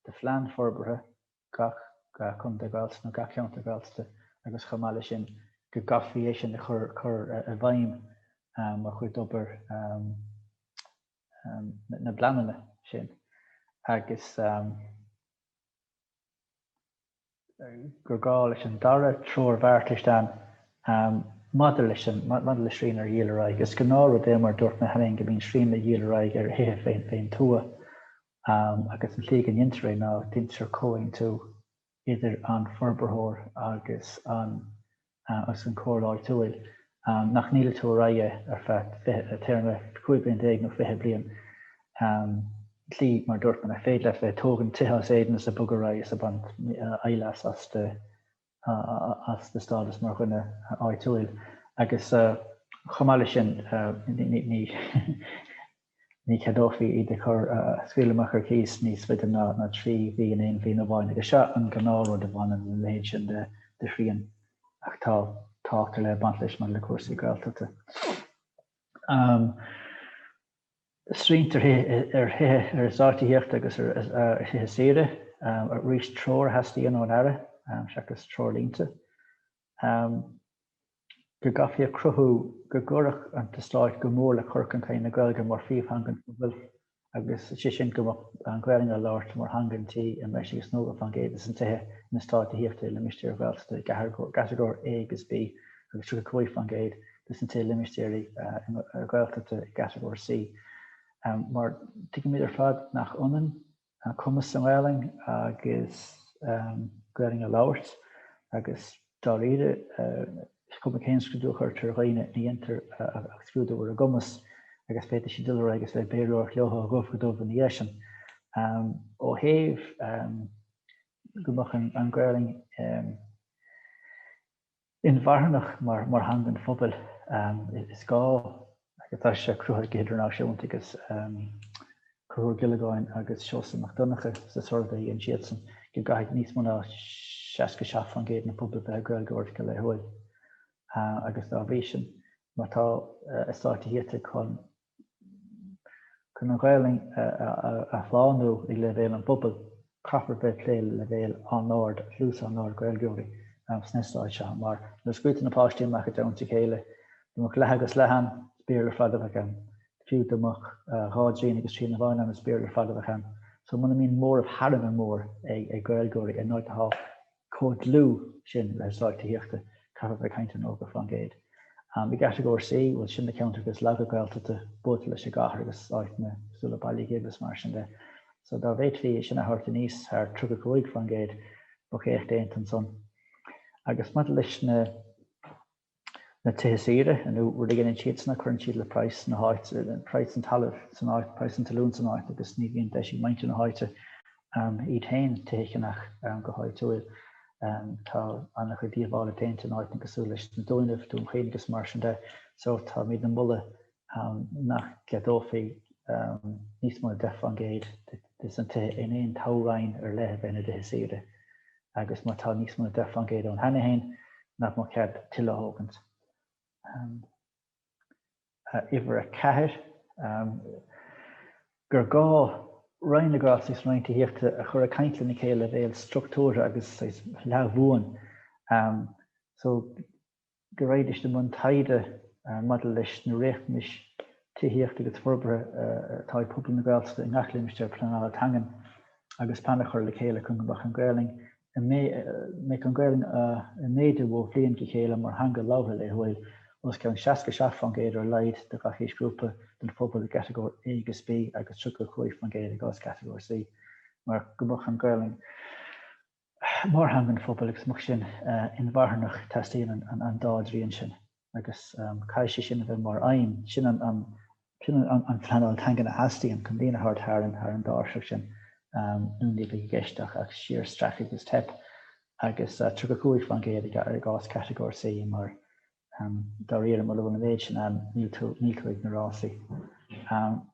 de phlean forbartha gach contae Gaeltachta nó gach ceantar Gaeltachta agus chomh maith leis sin go gcaithfí é sin a chur i bhfeidhm mar chuid d'obair na bpleananna sin agus gur gá leis an dara treoir bheartais ann maidir leis an, maidir le srian ar dhíol ar aghaidh. Is gnáthrud é mar a dúirt mé cheana féin go mbíonn srian le dhíol ar aghaidh ar thithe fén fén tuath agus an tslí go ndeintear é ná deintear comhaontú idir an forbarthóir agus an chomhairle áitiúil nach ndíoltar ar aghaidh ar feadh téarma 15 bliain nó 20 bliain sa tslí mar dúirt mé nach féidir leat bheith ag tógaint tithe as éadan is ag bogadh ar aghaidh is ag baint leas as do stádas mar dhuine áitiúil agus chomh maith leis sin ní Ní cheadófaí iad a chur, a scaoil amach ar chíos níos faide ná trí mhí in aon bhliain amháin, agus seo an gnáthrud a bhaineann le leithéid sin de shrian. Ach tá tábhacht ar leith ag baint leis maidir le cúrsaí Gaeltachta. Srianta ar eastáit tithíochta agus ar thithe saoire, arís treoir a theastaíonn ón Aire seachas treoirlínte. go gcaithfí a chruthú go gcuirfeadh an t-eastát go mór le cur chun cinn na Gaeilge mar phríomhtheanga an phobail, agus sé sin go mbeadh an Ghaelainn á labhairt mar theanga an tí i mbreis agus 90% de na tithe in eastát tithíochta i limistéir Ghaeltachta i gCatagóir A agus B agus 35% de na tithe i limistéirí Ghaeltachta i gCatagóir C. Mar tuigimid ar fad nach ionann an cumas sa nGaelainn agus Gaelainn a labhairt agus dáiríre is cuma cén scrúdú a chuirtear ar dhaoine ní dhéantar ach scrúdú ar a gcumas agus féadfaidh siad dul ar aghaidh agus bheith ag Béarlóireacht leotha ó dhubh go dubh ina dhiaidh sin. Ó thaobh go mbeadh an Ghaelainn inmharthanach mar theanga an phobail. Is gá go, tá sé cruthaithe go hidirnáisiúnta agus Conchúr Ó Giollagáin agus Seosamh Mac Donnacha sa suirbhé a dhein siadsan go gcaithfidh níos mó ná 67% den phobal bheith ag Gaeilgeoireacht go laethúil agus dá bhrí sin má tá eastát tithíochta chun Chun an Ghaelainn a shlánú ag leibhéal an phobail, caithfear bheith ag plé le leibhéal an-ard, dlús an-ard Gaeilgeoirí sna heastáit seo, mar nuair a scaoiltear na páistí amach i dteannta a chéile, dá mbeadh leath agus leath ann, is Béarla ar fad a bheidh ann, fiú dá mbeadh dhá dtrian agus trian amháin ann, is Béarla ar fad a bheidh ann. So muna mbíonn móramh thar a bheith mór ag Gaeilgeoirí in áit atá chomh dlúth sin le heastát tithíochta, caithfear bheith ag caint ar 90%. I gCatagóir C, bhuel, sin na ceantracha is laige Gaeltachta, buailte leis an gcathair agus áiteanna cosúil le Baile Ghib is mar sin de. So dá bhféadfaí é sin a thabhairt aníos thar 35%, bheadh éacht déanta ansan. Agus maidir leis na. na tithe saoire, an rud a dheineann siad san ná cuireann siad le praghas na háit, praghas an talaimh san áit, praghas an talún san áit, agus ní bhíonn deis ag muintir na háite iad féin tithe a cheannach go háitiúil. Tá an-chuid díobhála déanta in áiteanna cosúil leis na Dúnaibh, Dún Chaoin agus mar sin de. So, táimidne ag moladh nach gceadófaí níos mó na 10 fán gcéad des na tithe in aon toghroinn ar leith a bheith ina dtithe saoire agus má tá níos mó na 10 fán gcéad ann cheana féin nach mbeadh cead tuilleadh a thógaint. Uimhir a ceathair, gur gá Roinn na Gaeltachta is an Roinn Tithíochta a chur ag caint lena chéile ag leibhéal struchtúrtha agus leathbhuan. go raghaidíst i mbun taighde maidir leis na riachtanais tithíochta agus forbartha atá ag pobal na Gaeltachta i ngach limistéar pleanála teangan agus plean a chur le chéile chun go mbeadh an Ghaelainn ag mbeadh an Ghaelainn ag méadú ó bhliain go chéile mar theanga labhartha laethúil os cionn 67% ar a laghad de gach aoisghrúpa den phobal i gCatagóir A agus B agus 35% i gcás Catagóir C mar go mbeadh an Ghaelainn mar theanga an phobail agus go mbeadh sin inmharthanach teastaíonn an dá dtrian sin agus caithfidh sé sin a bheith mar aidhm, sin an phleanáil teangan a theastaíonn chun daoine a thabhairt thar an dtáirseach sin nó ní bheidh i gceist ach síorstracadh is teip agus 35% i gcás Catagóir C mar Dáiríre, mura bhfuil an méid sin ann, níl tú ag na rásaí.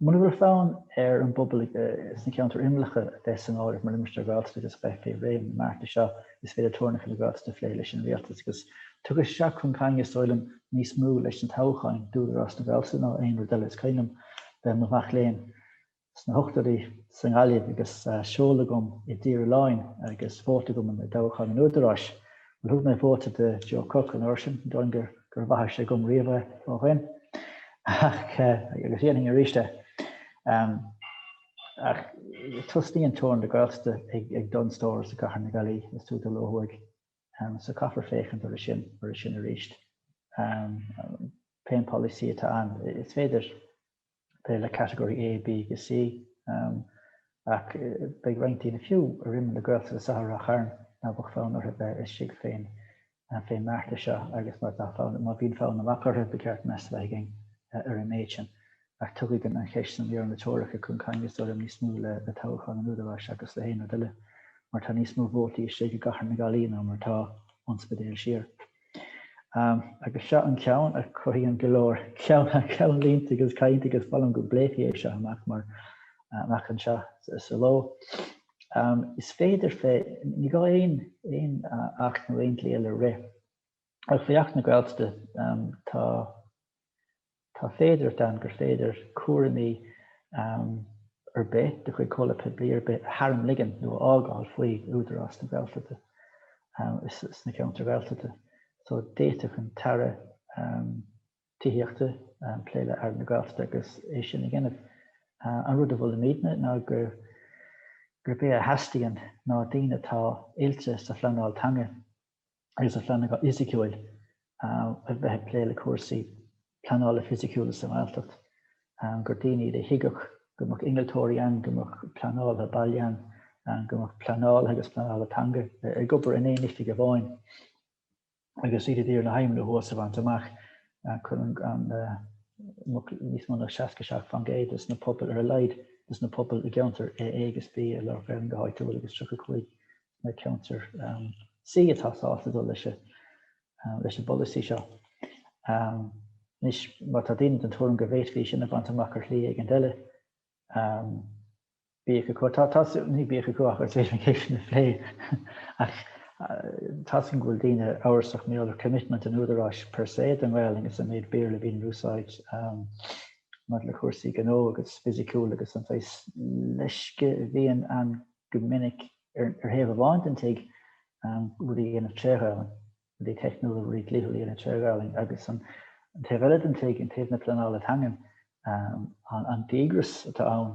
Mura bhfuil fonn ar an bpobal sna ceantair imeallacha a bheith san áireamh mar limistéar Gaeltachta agus a bheith fé réim na mbearta seo, is féidir teorainneacha na Gaeltachta a phlé leis an Rialtas agus tugadh isteach chun cainte, saoilim, níos mó leis na toghcháin d'Údarás na Gaeltachta ná aon rud eile. Is cuimhin liom bheith i mo mhac léinn. sna hochtóidí sa nGaillimh agus seoladh agam i dTír Oileáin agus vóta agam i dtoghchán an Údaráis. Bhuel, thug mé vóta do Joe Cooke an uair sin, ní dóigh liom gur mhaith sé dhom riamh é ó shin, ach agus dhéanfainn arís é. Ach tosnaíonn teorainn na Gaeltachta ag Dunnes Stores i gcathair na Gaillimhe, is tú dul ó thuaidh, so caithfear féachaint air sin arís. Pé an polasaí atá ann, is féidir, plé le category A, B agus C, ach beidh roinnt daoine, fiú ar imeall na Gaeltachta i Ráth Chairn, ná beadh fonn orthu bheith istigh fén mbeartas seo agus má bhíonn fonn amach orthu, ba cheart meas a bheith againn ar an méid sin. Ach tugadh an cheist sin maidir le teorainneacha chun cinn, is dóigh liom, níos mó le toghcháin an Údaráis seachas le haon rud eile, mar tá níos mó vótaí istigh i gCathair na Gaillimhe ná mar atá ón Spidéal siar. Agus seo an ceann a chothaíonn go leor ceannlínte agus cainte agus molaim go bpléifí é seo amach mar amach anseo sa ló. Is féidir, ní gá aon acht nó aon dlí eile a rith, ach faoi Acht na Gaeltachta tá, Tá féidearthacht ann gur féidir cúraimí ar bith de chuid comhlacht poiblí ar bith a tharmligean nó a fhágáil faoi Údarás na Gaeltachta ins na ceantair Ghaeltachta. So, d'fhéadfadh an tAire Tithíochta plé le Aire na Gaeltachta agus é sin a dhéanamh. An rud a mholaimidne ná gurb é a theastaíonn ná daoine atá oilte sa phleanáil teanga agus sa phleanáil fhisiciúil a bheith ag plé le cúrsaí pleanála fisiciúla sa nGaeltacht, gur daoine iad a thuigfeadh go mbeadh innealtóirí ann, go mbeadh pleanálaithe baile ann, go mbeadh pleanálaithe agus pleanálaithe teanga ag obair in aon oifig amháin agus iad ag iarraidh na haidhmeanna thuas a bhaint amach, chun go mbeadh níos mó ná 67% de na pobail ar a laghad de na pobail i gceantar A agus B ag labhairt Gaeilge go háitiúil agus 35 na ceantair C atá sásta dul leis an bpolasaí seo. Anois, má tá daoine den tuairim go bhféadfaí sin a bhaint amach ar shlí éigin eile, bíodh acu. Tá, ní bíodh acu, ach is féidir an cheist sin a phlé. Ach tá a fhios againn go bhfuil daoine amhrasach mar gheall ar commitment an Údaráis per se don nGaelainn agus an méid Béarla a bhíonn in úsáid maidir le cúrsaí gnó agus fisiciúil agus an saghas leisce a bhíonn ann go minic ar thaobh amháin den tigh rudaí a dhéanamh tré Ghaolainn, rudaí teicniúla, rudaí dlíthiúla a dhéanamh tré Ghaolainn agus an taobh eile den tigh, an taobh na pleanála teangan, an díograis atá ann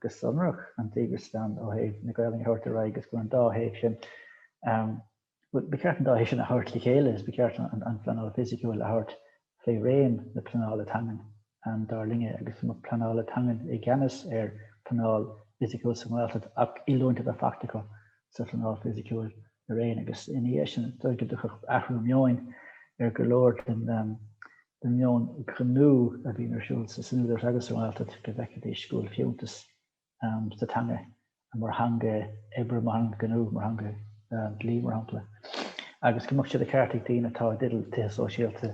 go sonrach, an díograis atá ann ó thaobh na Gaolainne a thabhairt ar aghaidh agus go bhfuil an dá thaobh sin Bhuel, ba cheart an dá thoise a thabhairt le chéile agus ba cheart an phleanáil fhisiciúil a thabhairt faoi réim na pleanála teangan, dar linne, agus an lucht pleanála teangan i gceannas ar phleanáil fhisiciúil sa nGaeltacht ach oiliúint a bheith faighte acu sa phleanáil fhisiciúil araon agus ina dhiaidh sin is dóigh go dtiocfadh athrú meoin ar go leor den den meon gnó a bhíonn ar siúl san Údarás agus sa Ghaeltacht go bhfeicfidís go bhfuil fiúntas sa teanga, mar theanga oibre, mar theanga ghnó, mar theanga dhlí, mar shampla, agus go mbeadh sé de cheart ag daoine atá i dteideal tithe sóisialta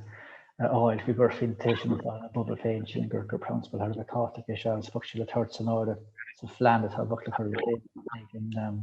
a fháil faoi go bhfaighidís tithe ina bpobal féin, sílim gur prionsabal thar a bheith tábhachtach é seo agus go mbeadh sé le tabhairt san áireamh sa phlean atá beartaithe le cur i bhfeidhm ag an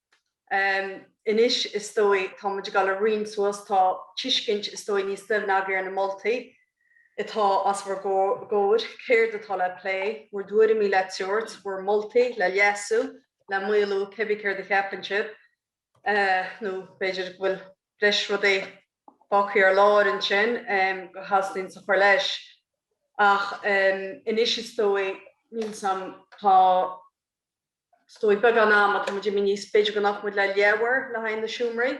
anois, is dóigh. Tá muid ag dul ag roinnt suas. Tá tuiscint, is dóigh, níos doimhne againn ar na moltaí atá os bhur gcomhair, céard atá le plé, bhur dtuairimí le tabhairt, bhur moltaí le leasú, le maolú, cé bith céard a cheapann sibh. Nó b'fhéidir go bhfuil breis rudaí fágthaí ar lár ansin go dteastaíonns a chur leis. Ach anois, is dóigh, níl 'fhios a'm. Tá. Is dóigh, beagán ama atá muid imithe níos, b'fhéidir go nglacfaidh muid le leathuair le haghaidh na seomraí.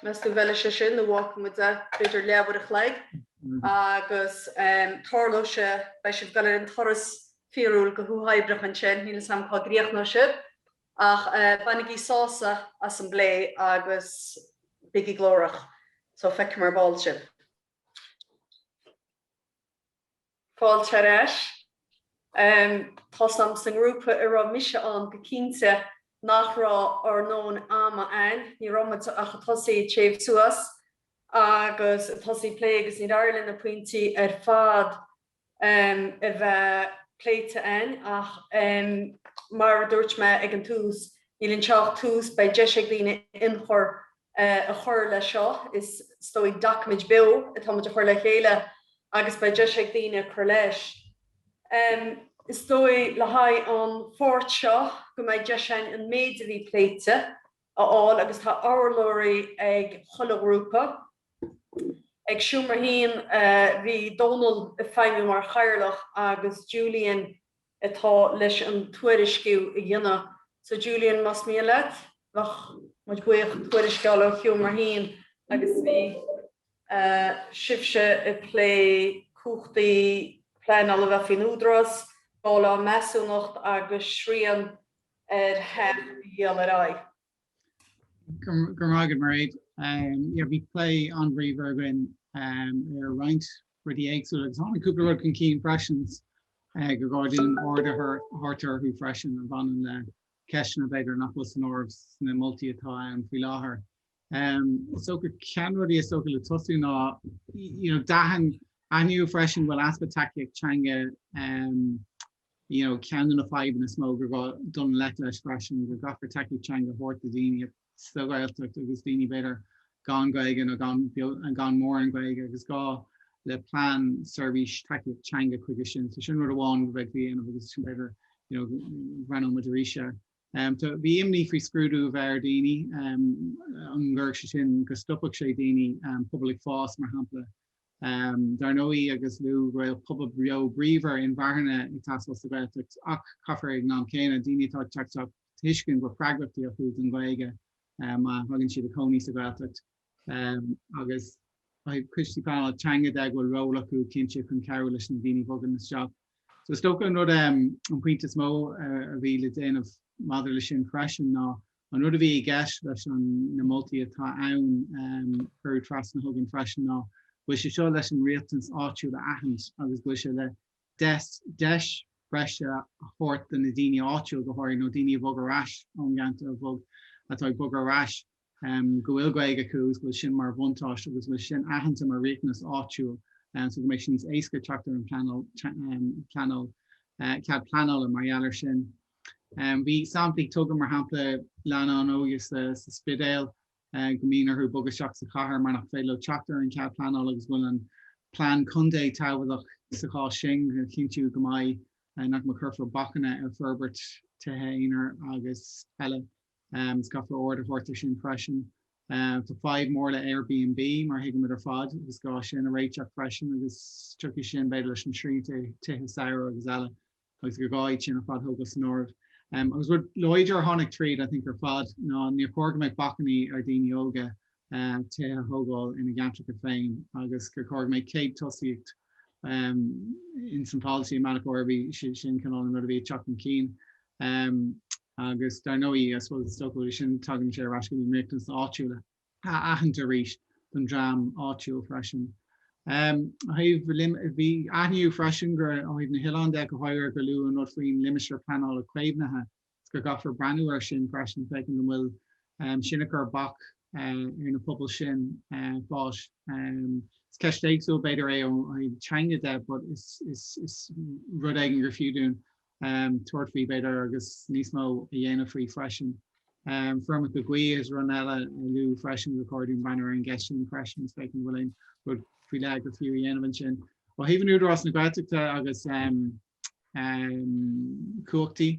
Meas tú an bhfeileadh sé sin nó an bhfágfadh muid é, b'fhéidir leathuair a chloig agus tarlóidh sé, beidh sibh ag dul ar an turas fíorúil go huathoibríoch ansin, níl 'fhios a'm cá gcríochnóidh sibh ach bainigí sásamh as an bplé agus bígí glórach. So feicfidh mé ar ball sibh. Fáilte ar ais. Tá's a'm sa ngrúpa a raibh mise ann go cinnte nach raibh ár ndóthain ama a'ainn, ní raibh muid ach a' tosaí a' téamh suas agus a' tosaí plé agus níor éirigh linn na pointí ar fad a bheith pléite a'ainn ach mar a dúirt mé ag an tús, níl anseo ach tús, beidh deis ag daoine ionchur a chur leis seo. Is dóigh, doiciméid beo atá muid a chur le chéile agus beidh deis ag daoine cur leis. Is dóigh le haghaidh an pháirt seo go mbeidh deis againn an méid a bhí pléite a fháil agus tá urlabhraí ag chuile ghrúpa. Ag Seomra hAon bhí Dónal ag feidhmiú mar chathaoirleach agus Julian atá leis an tuairisciú a dhéanamh. So Julian, más mian leat, bheadh muid buíoch tuairisceáil ó sheomra a haon agus bhí sibhse ag plé cumhachtaí pleanála a bheith faoin Údarás, dáileadh measúnacht agus srian ar theach a dhíol ar aghaidh. Grma agat Mairéad. Yeah bhí plé an-bhríomhar againn ar roinnt rudaí éagsúla agus tháinig cúpla rud chun cinn freisin go gcaithfear aird a thabhairt orthu freisin a bhaineann le ceisteanna b'fhéidir nach bhfuil san áireamh sna moltaí atá ann faoi láthair. Is dócha ceann de na rudaí is dócha le tosú ná you know d'aithin aithníodh freisin go bhfuil easpa tacaíocht teanga You know, ceann de na fadhbanna is mó gur gá déileáil leis freisin go gcaithfear tacaíocht teanga a thabhairt do daoine sa Ghaeltacht agus daoine b'fhéidir gan Gaeilge nó gan mórán Gaeilge agus gá le plean seirbhís tacaíocht teanga chuige sin. So sin rud amháin a bheadh a dhéanamh agus sin b'fhéidir, you know, mbreathnóidh muid arís air. Um, tá, bhí imní faoi scrúdú a bheith ar daoine um, an gcuirfeadh sé sin go stopfadh sé daoine um, pobal ag fás, mar shampla, Dar ndóigh, agus lú, go bhfuil pobal beo bríomhar inmharthana ag teastáil sa Ghaeltacht ach caithfear ag an am céanna daoine atá ag teacht a thuiscint go bhfuil freagrachtaí acu don Ghaeilge má thagann siad a chónaí sa Ghaeltacht agus ó thaobh coistí pleanála teanga de go bhfuil ról acu cinnte chun cabhrú leis na daoine a bhogann isteach. So is dócha an rud, an pointe is mó a bhí le déanamh maidir leis sin freisin ná, An rud a bhí i gceist leis na moltaí atá ann a cuireadh trasna chugainn freisin ná go bhfuil sé seo leis an riachtanas áitiúil a aithint agus go bhfuil sé le deis breise a thabhairt do na daoine áitiúil, go háirithe, nó daoine a bhog ar ais ón gceantar, a bhog, atá ag bogadh ar ais, go bhfuil Gaeilge acu agus go bhfuil sin mar bhuntáiste agus go bhfuil sin aitheanta mar riachtanas áitiúil so go mbeidh sé níos éasca teacht ar an bpleanáil, cead pleanála mar gheall air sin. Bhí samplaí tugtha, mar shampla, lánúin óga sa Spidéal go mbíonn orthu bogadh isteach sa chathair mar nach féidir leo teacht ar an chead pleanála agus go bhfuil an plean contae tábhachtach sa chás sin chun cinntiú go mbeidh nach mbeidh cuirfear bacainní ar forbairt tithe aonair agus eile. Is caithfear aird a thabhairt air sin freisin. Tá fadhb mhór le Airbnb, mar a thuigimid ar fad, agus gá sin a réiteach freisin agus tiocfaidh sin, b'fhéidir, leis na srianta tithe samhraidh agus eile. agus gur gá iad sin ar fad a thógáil san áireamh. Agus rud láidir a tháinig tríd, I think, ar fad ná níor chóir go mbeadh bacainní ar dhaoine óga tithe a thógáil ina gceantracha féin agus gur chóir go mbeadh céad tosaíocht in san polasaí i mbealach gurb é sin sin cineál an rud a bhí ag teacht chun cinn. Agus dar ndóigh, I suppose, is dócha go bhfuil sin tagann sé ar ais go riachtanais áitiúla. á aithint arís don dream áitiúil freisin. Ó thaobh, bhí, aithníodh freisin go ó thaobh na n-oileán de go háirithe gur luadh an rud faoin Limistéar Pleanála Caomhnaithe agus go gcaithfear breathnú air sin freisin féachaint an bhfuil sin ag cur bac ar na pobail sin fás. Is ceist éagsúil b'fhéidir é ó thaobh teanga de but is rud éigin gur fiú dúinn tabhairt faoi b'fhéidir agus níos mó a dhéanamh faoi freisin. Feirmeacha gaoithe is rud eile a luadh freisin gur chóir dúinn breathnú ar an gceist sin freisin is féachaint an bhfuil aon rud faoi leith gur fiú a dhéanamh ansin. Ó thaobh an Údarás na Gaeltachta agus cumhachtaí,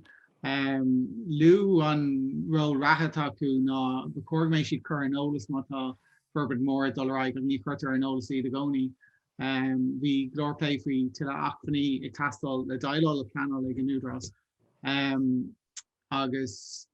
luadh an ról reatha atá acu ná gur chóir go mbeidh siad curtha in eolas má tá forbairt mhór ag dul ar aghaidh ach ní chuirtear in eolas iad i gcónaí. Bhí go leor plé faoi tuilleadh acmhainní ag teastáil le déileáil le pleanáil ag an Údarás agus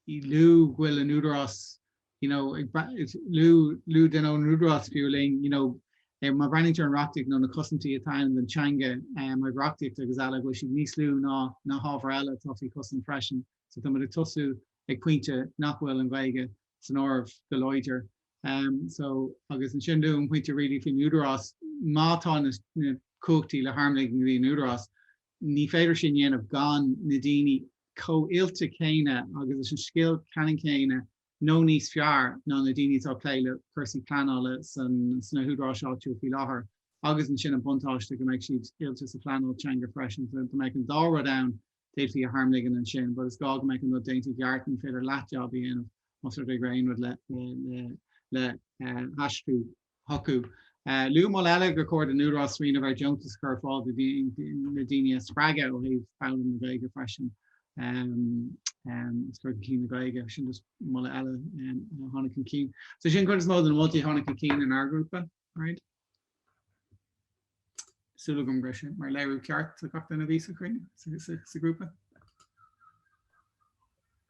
luadh go bhfuil an Údarás, you know, ag breathnaigh, luaigh duine ón Údarás, fiú, linn, you know, má bhreathnaítear ar an reachtaíocht nó na cosaintí atá ann don teanga ó thaobh reachtaíocht agus eile, go bhfuil siad níos lú ná na hábhair eile atá faoi chosaint freisin. So táimid ag tosú ag pointe nach bhfuil an Ghaeilge san áireamh go láidir so agus ansin an tríú pointe really faoin údarás, má tá na na cumhachtaí le tarmligean go dtí an údarás, ní féidir sin dhéanamh gan na daoine chomh hoilte céanna agus leis an scil ceannann céanna nó níos fearr ná na daoine atá ag plé le cúrsaí pleanála san sna húdaráis áitiúla faoi láthair agus ansin an buntáiste go mbeidh siad oilte sa phleanáil teanga freisin, so go mbeidh an dá rud ann d'fhéadfaí a tharmligean ansin, but is gá go mbeadh an rud déanta i gceart, ní féidir leathjab a dhéanamh más rud é go raibh aon rud le haistriú chucu. Luadh moladh eile gur chóir don Údarás smaoineamh ar dheontas a chur ar fáil do na daoine a spreagadh ó thaobh foghlaim na Gaeilge freisin, agus cur chun cinn na Gaeilge, sin just moladh eile a tháinig chun cinn. So sin cuid is mó de na moltaí a tháinig chun cinn inár ngrúpa. Mairéad? Súil agam go raibh sé mar léiriú ceart do gach duine a bhí sa chruinniú, sa ghrúpa.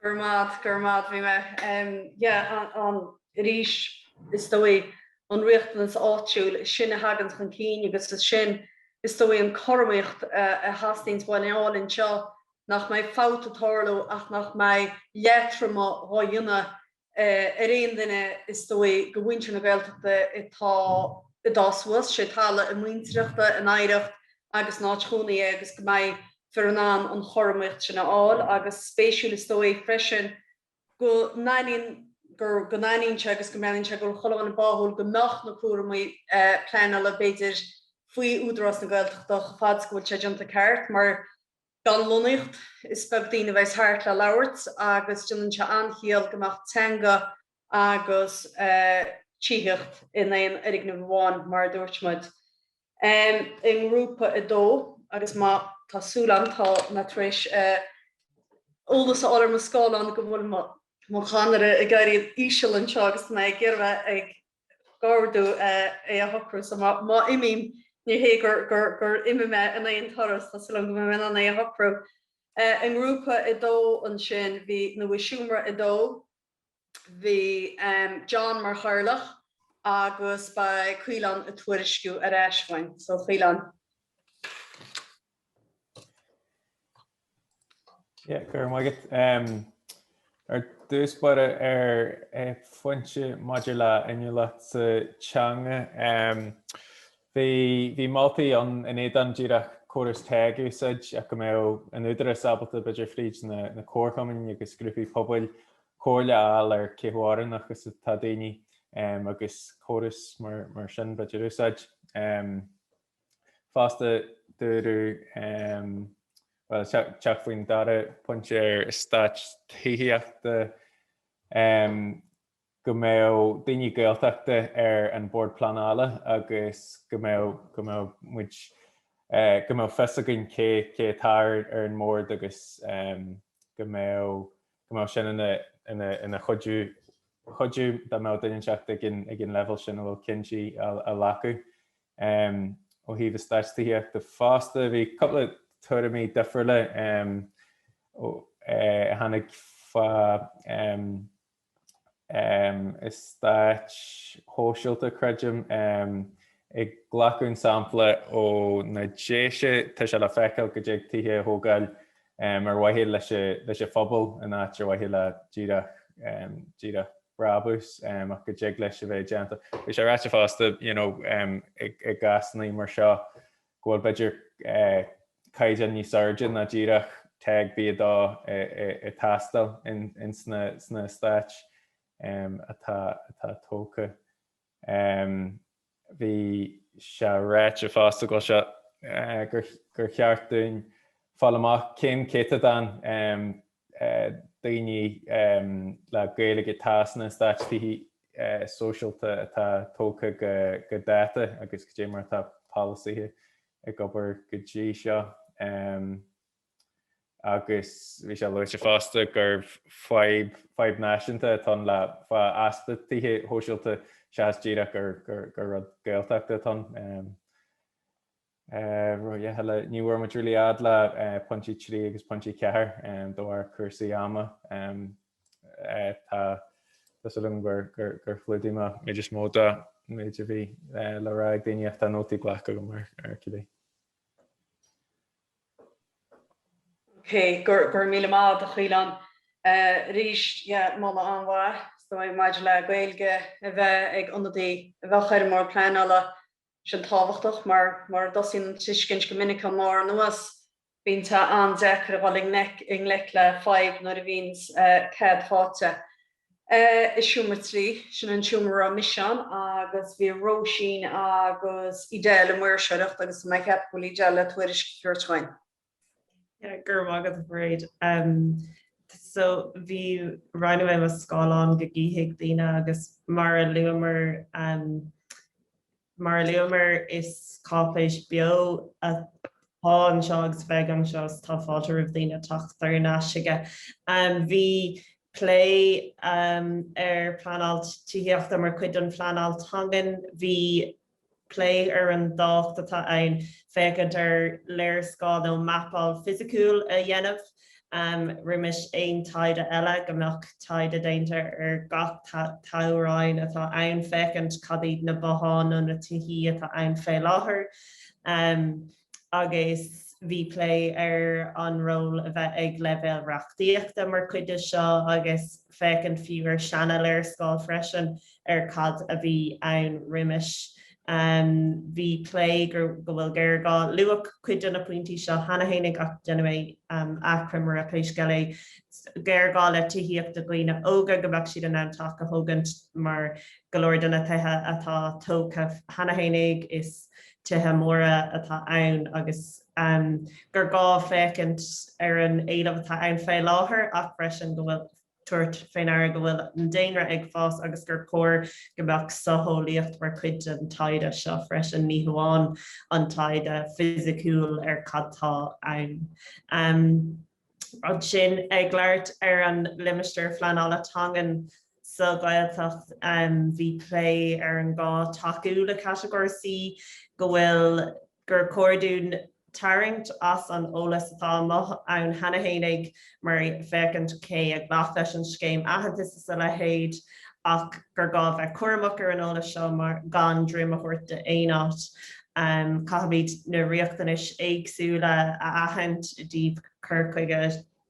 Go raibh maith agat, go raibh maith agat. Yeah, an, arís, is dóigh, an riachtanas áitiúil, is sin a thagann chun cinn agus is sin, is dóigh, an cothromaíocht a theastaíonns uainn a fháil anseo, nach mbeidh fabht ag tarlú ach nach mbeidh leatrom dhá dhéanamh ar aon duine is dóigh do mhuintir na Gaeltachta atá ag fás suas, sé talamh a muintireachta, a n-oidhreacht agus a n-áit chónaí é agus go mbeidh muid in ann an chothromaíocht sin a fháil agus spéisiúil is dóigh freisin go n-aithníonn gur go n-aithníonn sé agus go measann sé go bhfuil chuile dhuine báúil go mbeadh na cúramaí pleanála b'fhéidir faoi Údarás na Gaeltachta chomh fada is go bhfuil sé déanta ceart mar Gan lonnaíocht, is beag daoine a bheas thart le labhairt agus déanann sé an-chiall go mbeadh teanga agus tithíocht in aon fhoirgneamh amháin, mar a dúirt muid, i nGrúpa 2 agus má, tá súil agam, tá mé tar éis eolas a fháil ar mo scáileán go bhfuil mo chadhnra ag éirí íseal anseo agus tá mé ag iarraidh a bheith ag. gabháil do é a shocrú. So má imím, ní hé gur imigh mé in aon turas, tá súil agam go mbeidh mé in ann é a shocrú. I ngrúpa a dó ansin, bhí nó i seomra a dó, bhí John mar chathaoirleach agus ba é Caolán ag tuairisciú ar ais uainn. So, Caolán. Yeah, go raibh maith agat. Um, ar dtús báire ar eh, an phointe maidir le inniúlacht sa teanga. Um, bhí, bhí moltaí ann in éadan díreach córas TEG a úsáid ach go mbeadh an tÚdarás ábalta b'fhéidir fríd na, na comharchumainn agus grúpaí pobail comhairle a fháil ar cé chomh oiriúnach agus atá daoine um, agus córas mar, mar sin b'fhéidir a úsáid. Um, Fosta, dúradh, bhuel, ag teacht faoin dara pointe ar eastáit tithíochta, go mbeadh daoine Gaeltachta ar an Bord Pleanála agus go mbeadh, go mbeadh muid, go mbeadh fios againn cé, cé atá ar an mbord agus go mbeadh, go mbeadh sin ina chuidiú dá mbeadh duine inteacht ag an leibhéal sin a bhfuil cinntí á ghlacadh ó thaobh eastáit tithíochta fosta. Bhí cúpla tuairimí difriúla a tháinig fá eastáit shóisialta, creidim, ag glacadh sampla ó na Déise, tá sé le feiceáil go dtig tithe a thógáil ar mhaithe leis an phobal in áit ar mhaithe le díreach, díreach brabús, ach go dtig leis a bheith déanta. Bhí sé ráite fosta i gcásanna mar seo go bhfuil b'fhéidir caighdeán níos airde ná díreach TEG B2 ag teastáil ins na heastáit atá tógtha. Bhí sé ráite fosta go bhfuil sé gur cheart dúinn fáil amach cén céatadán daoine le Gaeilge atá sna heastáit tithe sóisialta atá tógtha go dáta agus caidé mar atá polasaithe ag obair go dtí seo. agus bhí sé luaite fosta gurbh fadhb, fadhb náisiúnta atá ann le easpa tithe sóisialta seachas díreach gur, gur, gur rud Gaeltachta atá ann. Ní bhfuair muid really fhad le pointí trí agus pointí ceathair de bharr cúrsaí ama. Tá, tá súil agam gur, gur, gur chlúdaigh mé an méid is mó den méid a bhí le rá ag daoine, tá sé, ach tá nótaí glactha agam ar, ar cibé. Ok, go raibh míle maith do Chaolán arís, yeah moladh an-mhaith ansin maidir le Gaeilge a bheith ag ionadaí a bheadh ar an mBord Pleanála, sin tábhachtach mar mura dtosaíonn an tuiscint go minic ón mbarr anuas, bíonn sé an-deacair a dhul i ngleic le fadhb nuair a bhíonns cead faighte. i seomra 3, sin an seomra a raibh mise ann agus bhí Róisín agus Edel i mbun áisitheoireacht agus mé a cheapadh go bhfuil Edel le tuairisc a thabhairt dhúinn. Yeah, go raibh maith agat, Mairéad. Um, so, roinnfidh mé mo scáileán go gcífidh daoine agus mar a luamar um, Mar a luamar, is cáipéis beo atá anseo agus beidh anseo so tá fáilte roimh dhaoine teacht thar n-ais chuige. Bhí plé ar pleanáilt tithíochta mar chuid den phleanáilt teangan. Bhí plé ar an dtábhacht atá ann féachaint ar léarscáil nó mapáil fisiciúil a dhéanamh. roimis aon taighde eile, go mbeadh taighde déanta ar gach toghroinn atá ann féachaint cad iad na botháin nó na tithí atá ann fé láthair. Agus bhí plé ar an ról a bheadh ag leibhéal reachtaíochta mar chuid de seo agus féachaint fiú ar seana-léarscáil freisin. ar cad a bhí ann roimis. Bhí plé gur, go bhfuil géarghá. Luadh cuid de na pointí seo cheana féinig, ach déanfaidh mé achoimre air pé scéal é. Géarghá le tithíocht do dhaoine óga, go mbeadh siad in ann teach a thógaint mar go leor de na tithe atá tógtha cheana féinig, is tithe móra atá ann agus gur gá féachaint ar an éileamh atá ann fé láthair ach freisin go bhfuil. tabhairt fé ndeara go bhfuil an daonra ag fás agus gur cóir go mbeadh socheolaíocht mar chuid den taighde seo freisin, ní hamháin an taighde fisiciúil ar cad tá ann. Ansin, ag labhairt ar an limistéar pleanála teangan sa Ghaeltacht, bhí plé ar an gá tacú le Catagóir C, go bhfuil, gur chóir dúinn tarraingt as an eolas atá amuigh ann cheana fhéinig mar féachaint cé a ghlac leis an scéim aitheantais is a leithéid ach gur gá bheith cúramach ar an eolas seo mar gan droim a thabhairt d'aon áit caithfimid na riachtanais éagsúla a aithint i dtaobh cur chuige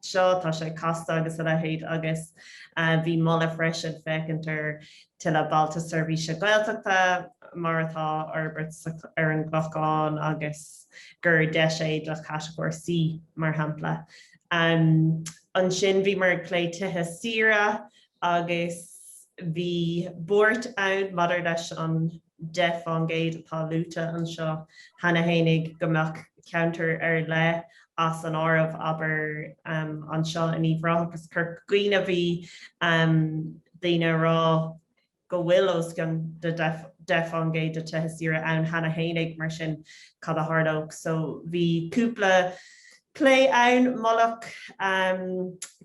seo, tá sé casta agus a leithéid agus bhí moladh freisin féachaint ar tuilleadh bailte seirbhíse Gaeltachta mar atá á fhorbairt ar an gClochán agus gur deis é le catagóir C mar shampla. Ansin bhíomar ag plé tithe saoire agus. Bhí buairt ann maidir leis an 10% atá luaite anseo cheana fhéinig go mbeadh ceantair ar leith as an áireamh, abair, anseo in Uíbh Ráth agus Corca Dhuibhne. Bhí daoine ag rá go bhfuil os cionn de 10% de thithe saoire ann cheana fhéinig, mar sin cad a tharlódh? So bhí cúpla plé ann, moladh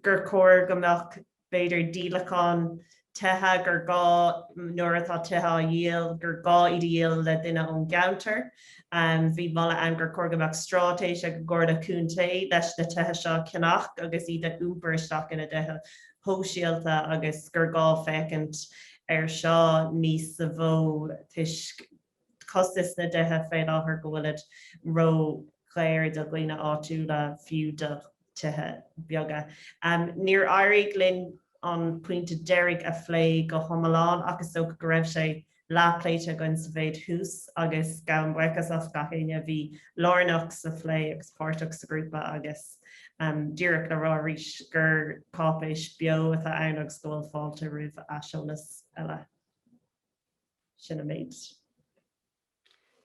gur chóir go mbeadh b'fhéidir, díolachán tithe gur gá, nuair atá tithe á dhíol, gur gá iad a dhíol le duine ón gceantar. Bhí moladh ann gur chóir go mbeadh stráitéis ag an gComhairle Contae leis na tithe seo a cheannach agus iad a iompar isteach ina dtithe sóisialta agus gur gá féachaint air seo níos sa mhó toisc costas na dtithe faoi láthair, go bhfuilid ró-dhaor do dhaoine áitiúla, fiú do thithe beaga. Níor éirigh linn an pointe deiridh a phlé go hiomlán ach is dócha go raibh sé leathpléite againn sa mhéid thuas agus gabhaim buíochas le gach éinne a bhí lárnach sa phlé agus páirteach sa ghrúpa agus díreach le rá arís gur cáipéis bheo atá ann agus go bhfuil fáilte roimh aiseolas eile. Sin an méid.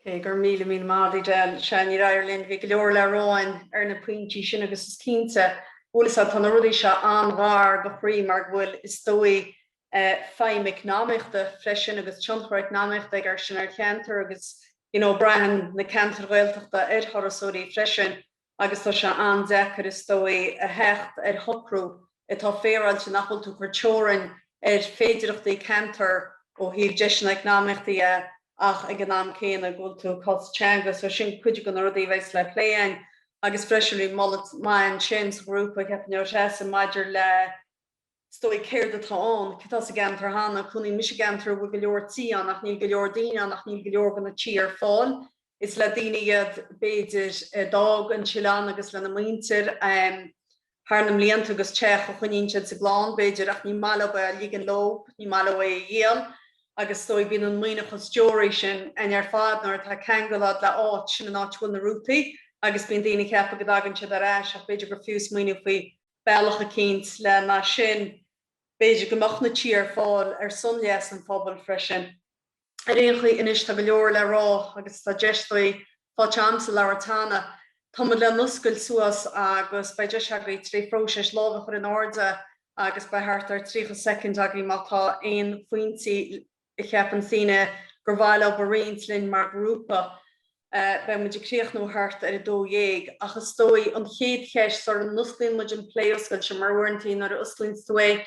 Go raibh míle míle maith agaibhse, níor éirigh linn, bhí go leor le rá againn ar na pointí sin agus is cinnte, go bhfuil, is ea, tá na rudaí seo an-ghar do chroí mar go bhfuil, is dóigh, feidhm eacnamaíochta freisin agus tionchar eacnamaíochta acu sin ar cheantar agus, you know, braitheann na ceantair Ghaeltachta ar thurasóirí freisin. Agus tá sé an-deacair, is dóigh, a theacht ar shocrú atá féaráilte nach bhfuil tú ag cur teorainn ar féidireachtaí ceantar ó thaobh deiseanna eacnamaíochta dhe ach ag an am céanna go bhfuil tú ag cosaint teanga. So sin cuid de na rudaí a bheas le plé againn. Agus freisin bhí moladh maith ansin sa ghrúpa, cheap mé, ó dheas maidir le. is dóigh, céard atá ann, cad tá sa gceantar cheana, cónaíonn mise i gceantar a bhfuil go leor tithe ann ach níl go leor daoine ann ach níl go leor de na tithe ar fáil, is le daoine iad, b'fhéidir, a d'fhág an t-oileán agus lena muintir, thar na mblianta agus teach a choinníonn siad sa gclann, b'fhéidir, ach ní maith leo é a ligean leo, ní maith leo é a dhíol agus is dóigh, bíonn an mhaoithneachas tíre sin ann ar fad nuair atá ceangal agat le háit, sin an áit a bhfuil na rútaí agus bíonn daoine ag ceapadh go dtagann siad ar ais ach b'fhéidir gur fiú smaoineamh faoi bealach eicínt lena sin b'fhéidir go mbeadh na tithe ar fáil ar son leas an phobail freisin. Ar aon chaoi, anois tá go leor le rá agus tá deis tar éis fáil agamsa labhairt cheana. Tá muid lena oscailt suas agus beidh deis agaibh tré phróiseas lámh a chur in airde agus beidh thart ar 30 soicind agaibh má tá aon phointí a a cheapann sibh gur mhaith libh a roinnt linn mar ghrúpa. Beidh muid ag críochnú thart ar a dó dhéag, ach is dóigh, an chéad cheist, sara n-osclaíonn muid an plé oscailte, mar uaireantaí nuair a osclaíonns tú é,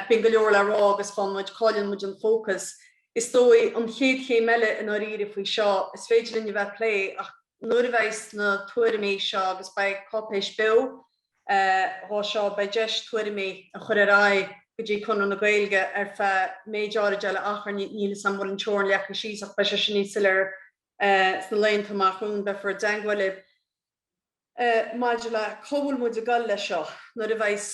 bíonn go leor le rá agus fanann muid, cailleann muid an fócas. Is dóigh, an chéad chéim eile, i ndáiríre, faoi seo, is féidir linn a bheith ag plé, ach nuair a bheidh na tuairimí seo, agus beidh cáipéis beo, dho seo, beidh deis tuairimí a chur ar aghaidh go dtí Conradh na Gaeilge ar feadh méid áirid eile d'achar níl a fhios a'm bhfuil an teorainn leagtha síos ach beidh sé sin níos soiléire sna laethanta amach romhainn. Beifear i dteangmháil libh maidir le cá bhfuil muid ag dul leis seo nuair a bheidh's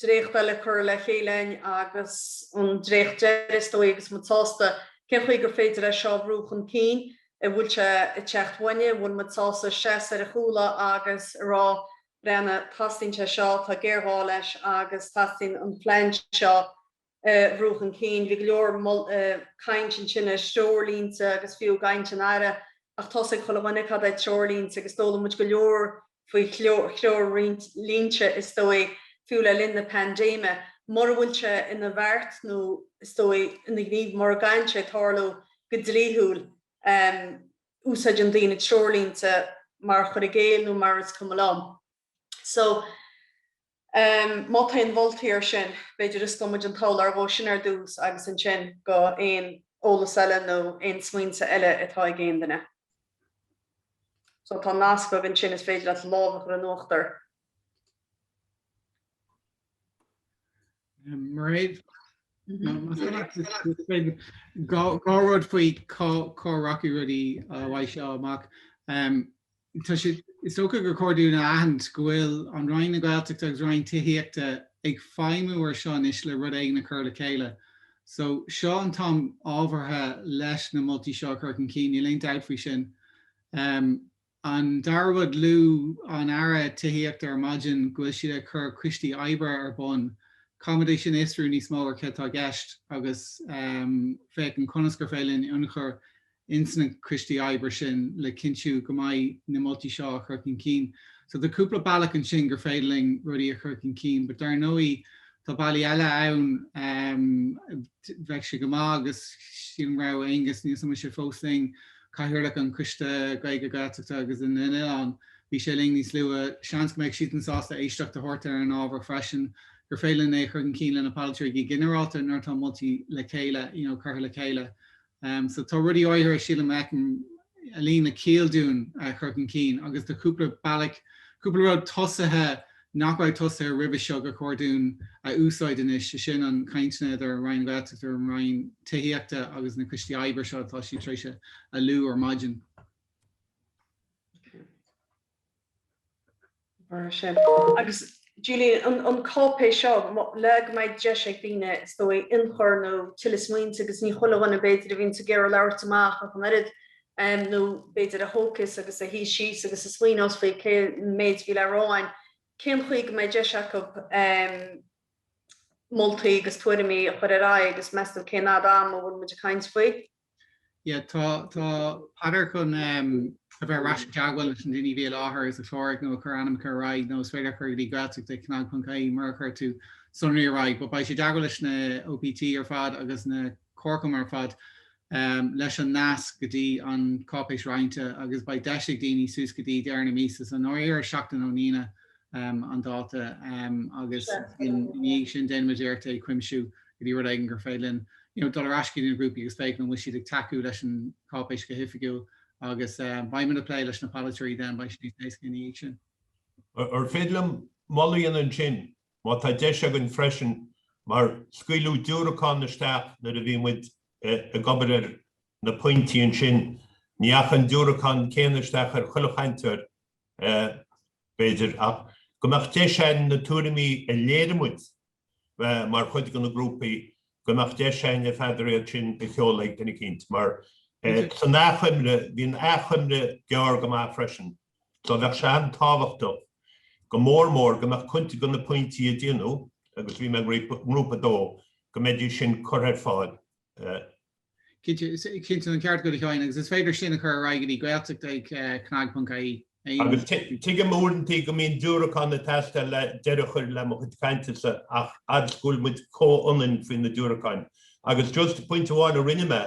dréacht eile curtha le chéile a'inn agus an dréacht deiridh is dóigh agus muid sásta cén chaoi gur féidir é seo a bhrú chun cinn. a bhfuil sé ag teastáil uainne, bhfuil muid sásta seasamh ar a chúla agus a rá, breathna, teastaíonn sé seo, tá géarghá leis agus teastaíonn an plean seo a bhrú chun cinn. Bhí go leor caint ansin ar threoirlínte agus fiú ag caint an Aire, ach tá a fhios ag chuile dhuine cad é treoirlínte agus d'fhoghlaim muid go leor faoi threoirlínte, is dóigh, fiú le linn na paindéime, mura bhfuil sé ina bheart nó, is dóigh, ina ghníomh mura gcaitheann sé tarlú go dlíthiúil. Úsáideann daoine treoirlínte mar chur i gcéill nó mar is cuma liom. So. Má tá aon mholtaí air sin, b'fhéidir, go dtabharfaidh muid an t-eolas air sin ar dtús agus ansin go aon eolas eile nó aon smaointe eile atá ag aon duine. So tá nasc agaibh ansin, is féidir leat lámh a chur in uachtar. Mairéad, dhá rud faoi cá rachaidh rudaí uaidh seo amach. Is dócha gur chóir dúinn a aithint go bhfuil an Roinn na Gaeltachta agus Roinn Tithíochta ag feidhmiú ar seo anois le rud éigin a chur le chéile. So, seo an t-am ábhartha leis na moltaí seo a chur chun cinn, níl aon dabht faoi sin. An dara rud, luaigh an tAire Tithíochta ar maidin go bhfuil siad ag cur coistí oibre ar bun. Caithfimid é sin a fhiosrú níos mó ar cad tá i gceist agus féachaint ar conas gur féidir linn ionchur ins na coistí oibre sin le cinntiú go mbeidh na moltaí seo á chur chun cinn. So tá cúpla bealach ansin gur féidir linn rudaí a chur chun cinn, but dar ndóigh tá bealaí eile ann ehm bheadh sé go maith agus sílim go raibh Aengus níl a fhios agam an bhfuil sé fós linn, cathaoirleach an Choiste Gaeilge, Gaeltachta agus na nOileán, bhí sé linn níos luaithe, seans go mbeadh siadsan sásta éisteacht a thabhairt ar an ábhar freisin, gur féidir linn é a chur chun cinn le na polaiteoirí go ginearálta nuair atá moltaí le chéile, you know curtha le chéile. Em, so tá rudaí áirithe sílim a fheicim a luíonn le ciall dúinn a chur chun cinn agus tá cúpla bealach, cúpla rud tosaithe nach raibh tosaithe roimhe seo gur chóir dúinn a úsáid anois, sé sin na cainteanna idir Roinn na Gaeltachta, an Roinn Tithíochta agus na coistí oibre seo atá siad tar éis a lua ar maidin. Agus Julian, an cáipéis seo, le go mbeidh deis ag daoine, is dóigh, ionchur nó tuilleadh smaointe, agus ní chuile dhuine, b'fhéidir, a bhíonn ag iarraidh labhairt amach ach an oiread, nó b'fhéidir a thógfas agus a shuífeas síos agus a smaoineos faoin méid a bhí le rá ann, cén chaoi go mbeidh deis acu moltaí agus tuairimí a chur ar aghaidh agus meas tú cén fhad ama a bhfuil muid ag caint faoi. Yeah, tá, tá Peadar chun a bheith ar ais i dteagmháil leis na daoine a bhí i láthair a chláraigh nó a chuir ainm acu ar aghaidh nó is féidir a chur go dtí Gaeltacht ag cnag ponc ie mura chuir tú sonraí ar aghaidh. But beidh sé i dteagmháil leis na OPT ar fad agus na Comharchumainn ar fad leis an nasc go dtí an cáipéis roinnte agus beidh deis ag daoine suas go dtí deireadh na míosa, so an Aoine seo, ar ó, seachtain ón Aoine an dáta agus ina dhiaidh sin déanfaimid iarracht é a chuimsiú go dtí rud éigin gur féidir linn dul ar ais go dtí na grúpaí agus féach an bhfuil siad ag tacú leis an cháipéis go hoifigiúil agus beidh muid ag plé leis na polaiteoirí den beidh sé níos éasca ina dhiaidh sin. Ar féidir liom moladh a dhéanamh ansin, má tá deis againn freisin, mar scaoileadh diúracán isteach nuair a bhí muid ag obair ar na pointí ansin, ní dheachaigh an diúracán céanna isteach ar chuile chainteoir b'fhéidir, ach go mbeadh deis againn na tuairimí a léirigh muid mar chuid de na grúpaí, go mbeadh deis againn a fad, iad sin a sheoladh ag duine eicínt, mar san achoimre, bhí an achoimre gearr go maith freisin, so bheadh sé an-tábhachtach, go mór mór, go mbeadh cuid de na pointí a déanadh, agus bhí mé i ngrúpa a dó, go mbeidís sin curtha ar fáil. Cinnte, cinnte, an ceart agat a Sheáin, agus is féidir sin a chur ar aghaidh go dtí Gaeltacht@cnag.ie. Agus tuigim uaireantaí go mbíonn diúracáin ag teastáil le deireadh a chur le mo chuid cainte-sa ach fhad 's go bhfuil muid comhionann faoi na diúracáin. Agus just pointe amháin a rinne mé,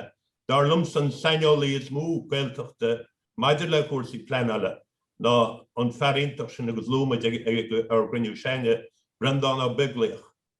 dar liomsa an saineolaí is mó Gaeltachta maidir le cúrsaí pleanála ná an fear iontach sin agus luaigh muid ar an gcruinniú cheana, Breandán Ó Beaglaoich.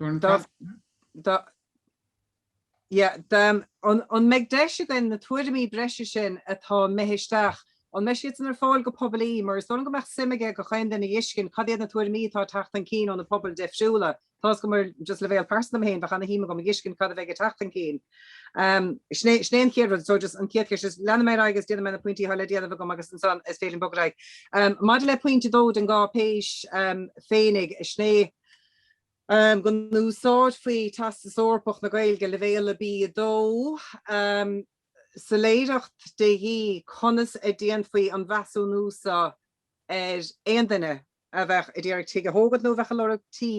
An mbeidh deis againn na tuairimí breise sin atá imithe isteach, an mbeidh siadsan ar fáil go poiblí, mar is dóigh go mbeadh suim ag gach aon duine a fheiscint cad iad na tuairimí atá ag teacht chun cinn ó na pobail difriúla. Tá's agam ar just leibhéal pearsanta dom féin bheadh ana shuim agam a fheiscint cad a bheadh ag teacht chun cinn. Sin é an chéad rud. So just an chéad cheist is leanfaidh mé ar aghaidh agus déanfaidh mé na pointí atá le déanamh agam agus ansan is féidir liom bogadh ar aghaidh. Maidir le pointe a dó den gcáipéis féinig, sin é, go n-úsáidfí Teastas Eorpach na Gaeilge, Leibhéal B2, soiléireacht de dhíth conas a dhéanfaí an measúnú seo ar aon duine a bheadh ag iarraidh tigh a thógaint nó a bheadh ag lorg tí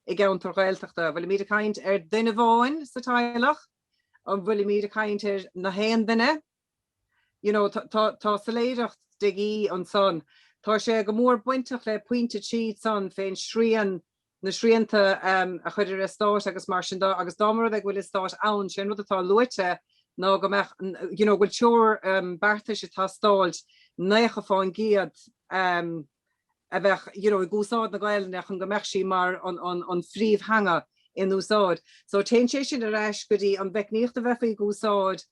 i gceantar Gaeltachta. Bhfuilimíd ag caint ar duine amháin sa teaghlach? An bhfuilimíd ag caint ar na haon duine? Tá soiléireacht de dhíth ansan. Tá sé go mór bainteach le pointe a trí ansan fén srian, na srianta a chur ar eastáit agus mar sin de agus dá mba rud é go bhfuil eastát ann, sé an rud atá luaite ná go mbeadh, you know, go bhfuil treoir beartais ag teastáilt nócha fán gcéad a bheith, you know, ag úsáid na Gaelainne chun go mbeadh sí mar an phríomhtheanga in úsáid. So téann sé sin ar ais go dtí an mheicníocht a bheifí ag úsáid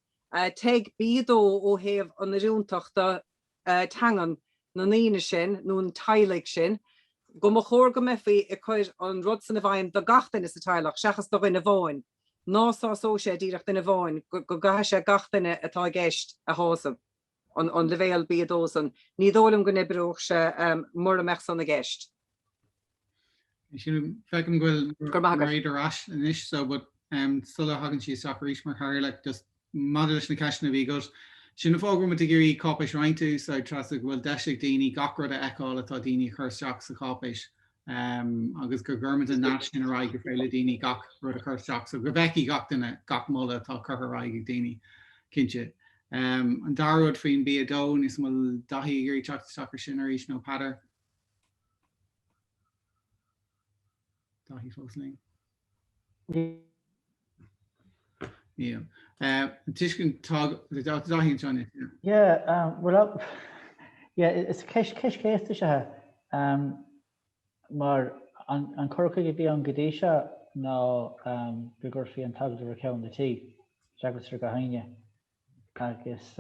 Teg, B2, ó thaobh inniúlachta teangan na ndaoine sin nó an teaghlaigh sin, go mba chóir go mbeifí ag cur an rud san i bhfeidhm do gach duine sa teaghlach seachas do dhuine amháin, ná sásódh sé díreach duine amháin, go gcaithfidh sé gach duine atá i gceist a shásamh. an leibhéal B2 san. Ní dóigh liom go n-oibreodh sé mura mbeadh san i gceist. Feicim go bhfuil Mairéad ar ais anois so but sula thagann sí isteach arís mar chathaoirleach just maidir leis na ceisteanna a bhí agat, sin an fáth go raibh muid ag iarraidh cáipéis roinnte a úsáid, Treasa, go bhfuil deis ag daoine gach rud a fheiceáil atá daoine a chur isteach sa cháipéis. agus go gcuirfimid an nasc sin ar aghaidh gur féidir le daoine gach rud a chur isteach, so go bhfeicfidh gach duine gach moladh atá curtha ar aghaidh ag daoine, cinnte. An dara rud faoin B2, níl a fhios agam an bhfuil Daithí ag iarraidh teacht isteach ar sin arís nó Peadar? Daithí fós linn? Is ceist chéasta is ea é, mar an cur chuige a bhí ann go dtí seo ná go gcuirfí an t-agallamh ar cheann an tí, seachas ar gach éinne. agus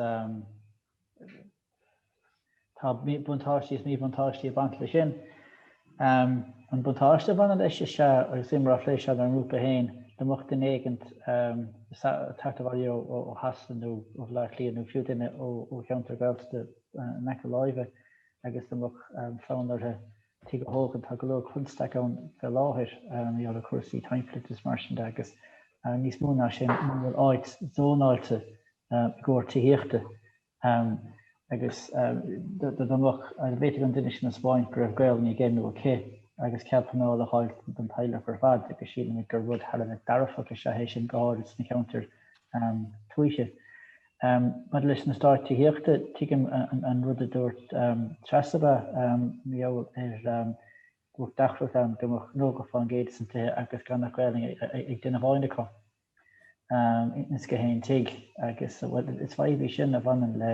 tá buntáistí is míbhuntáistí ag baint leis sin. An buntáiste a bhaineann leis is ea, agus mar a phléas sa ngrúpa féin, dá mbeadh duine éigin ag teacht abhaile ó Shasana nó ó Bhaile Átha Cliath nó fiú duine ó cheantar Gaeltachta in aice láimhe agus dá mbeadh fonn orthu tigh a thógaint, tá go leor constaic ann fé láthair mar gheall ar chúrsaí timpeallachta is mar sin de agus níos mó ná sin muna bhfuil áit zónáilte i gcomhair tithíochta agus dá mbeadh, dá bhféadfadh an duine sin a spáint go raibh Gaelainn aige nó aici agus cead pleanála a fháil don teaghlach ar fad agus sílimid gur rud thar a bheith dearfach is ea é sin go háirid sna cheantair tuaithe. Maidir leis na Stáit Tithíochta, tuigim an rud a dúirt Treasa, mar gheall ar go mbeadh deacracht ann go mbeadh 90% dos na tithe agus gan ach Gaelainn ag duine amháin acu ins gach aon tigh agus, bhuel, is fadhb í sin a bhaineann le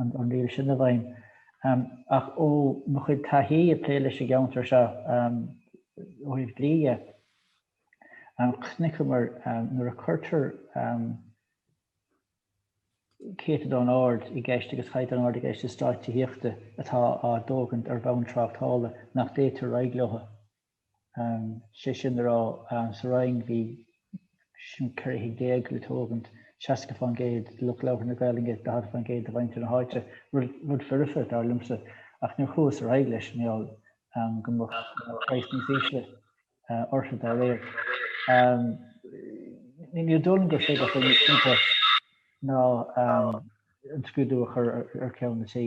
an riail sin i bhfeidhm. Ach ó mo chuid taithí ag plé leis an gceantar seo ó thaobh dlí dhe, chonaiceamar nuair a cuirtear céatadán ard i gceist agus caighdeán ard i gceist i Stáit Tithíochta atá á dtógaint ar bhonn tráchtála nach dtéitear ar aghaidh leo. sé sin le rá, sa Rinn bhí sin 14 tigh le tógaint, 60% do lucht labhartha na Gaolainne is 40% do mhuintir na háite, rud foirfe, dar liomsa, ach níor chuathas ar aghaidh leis, mar gheall go mbeadh praghas níos ísle orthu dá réir. Ní dóigh liom gur féidir chomh simplí ná an scrúdú a chur ar cheann an tí.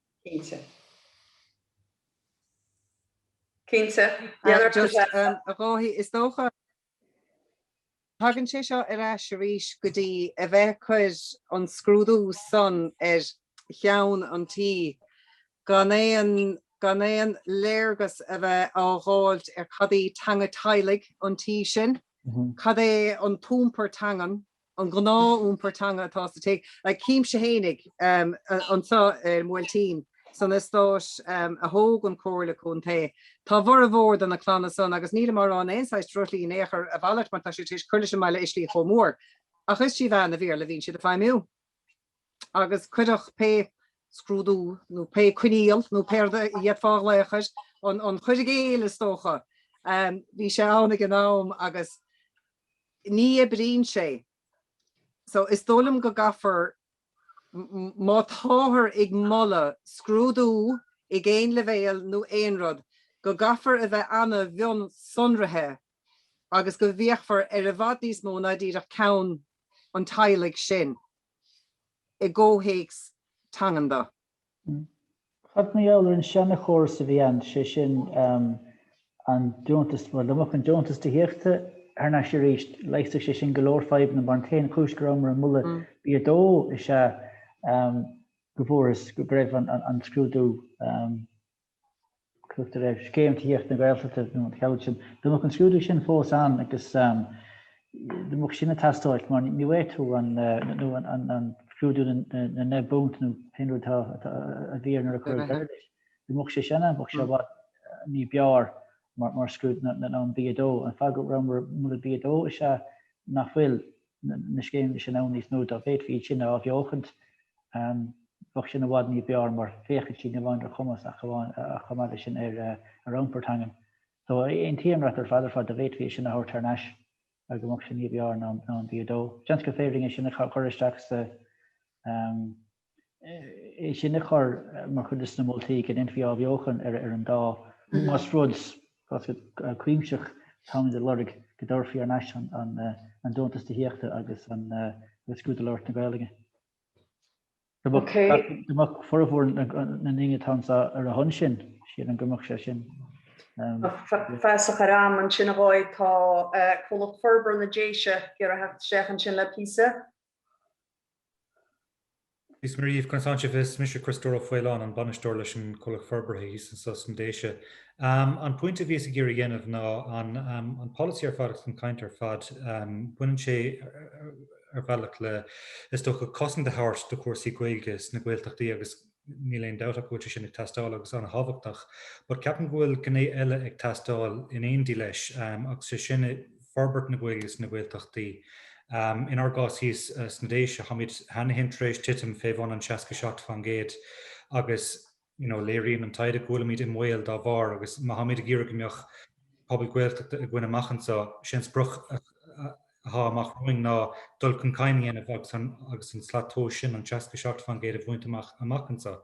Cinnte. Cinnte. Yeah, just is dócha, tagann sé seo ar ais arís go dtí a bheith ag cur an scrúdú san ar cheann an tí gan aon, gan aon léargas a bheith á dh'fháilt ar cad í teanga teaghlaigh an tí sin, cad é an t-iompar teangan an gnáth iompar teanga atá sa tig, like címse fhéinig, anseo ar an mBuailtín, san eastáit a thóg an Comhairle Contae, tá a bhformhór de na clanna san, agus nílim á rá in aon saghas drochshlí in aon chor, a mhalairt, mar tá siad tar éis cur leis an mbaile i slí chomh mór, ach is trí mheán an Bhéarla a bhíonn siad ag feidhmiú. agus cuireadh pé scrúdú nó pé coinníoll nó pé rud a d'fhéadfá a ghlaoch air, an cur i gcéill is dócha, bhí sé ann ag an am agus ní oibríonn sé. So is dóigh liom go gcaithfear, má táthar ag moladh scrúdú ag aon leibhéal nó aon rud, go gcaithfear a bheith ana-mhionsonraithe agus go bhféachfar ar i bhfad níos mó ná díreach ceann an teaghlaigh sin. i gcomhthéacs teangan. Cad mar gheall ar an seana-chóras a bhí ann, sé sin, an deontas, bhuel, dá mbeadh an deontas tithíochta thar n-ais arís, leigheasfadh sé sin go leor fadhbanna, mar an t-aon chúis go rabhamar ag moladh B2 is ea go bhfuarthas go raibh an scrúdú, A tugtar ar Scéim Tithíochta na Gaeltachta nó mar gheall air sin. Dá mbeadh an scrúdú sin fós ann agus dá mbeadh sin ag teastáilt, mar ní bhfaighidh tú an, nó an scrúdú na ndeich bpunt nó pé rud a bhí air nuair a cuireadh deireadh leis. Dá mbeadh sé sin ann, bheadh sé i bhfad ní b'fhearr mar, mar scrúdú ná an B2. An fáth go rabhamar ag moladh B2 is ea nach bhfuil, na scéimeanna sin ann níos mó, dá bhféadfaí iad sin a athbheochaint, bheadh sin i bhfad ní b'fhearr mar féachann sin ní amháin ar chumas ach chomh maith leis sin ar iompar teangan. So, aontaím leat ar fad ar fad dá bhféadfaí é sin a thabhairt thar n-ais go mbeadh sin ní b'fhearr ná an B2. Seans gur féidir linn é sin a chur isteach sa é sin a chur mar chuid dos na moltaí go ndéanfaí athbheochan ar an dá más rud cuimsitheach atáimid a lorg go dtabharfaí ar ais an deontas tithíochta agus an scrúdú labhairt na Gaeilge. Dá mbeadh formhór na ndaoine atá anseo ar a shon sin, sílim go mbeadh sé sin. Feasach ar am ansin a dhóigh. Tá Comhlacht Forbartha na Déise, ag iarraidh teacht isteach ansin le píosa Dia is Muire dhíbh, conas athá sibh? Is mise Críostóir Ó Faoláin, an bainisteoir leis an Comhlucht Forbartha thíos anso sna Déise. An pointe a bhíos ag iarraidh a dhéanamh ná an polasaí ar fad agus an chaint ar fad, baineann sé ar bhealach le, is dócha, cosaint a thabhairt do chúrsaí Gaeilge sna Gaeltachtaí agus Níl aon dabht ach go bhfuil sé sin ag teastáil agus an-thábhachtach. But ceapaim go bhfuil gné eile ag teastáil in éindí leis agus sé sin forbairt na Gaeilge sna Gaeltachtaí. Inár gcás thíos sna Déise, tháimid cheana féin tar éis titim fé bhun an seasca seacht faoin gcéad agus you know léiríonn an taighde go bhfuilimid i mbaol dá bharr agus má tháimid ag iarraidh go mbeadh pobal Gaeltachta againn amach anseo, sin sprioc a athá amach romhainn ná dul chun cinn a dhéanamh agus an slat tomhais sin, an 67% a bhaint amach amach anso.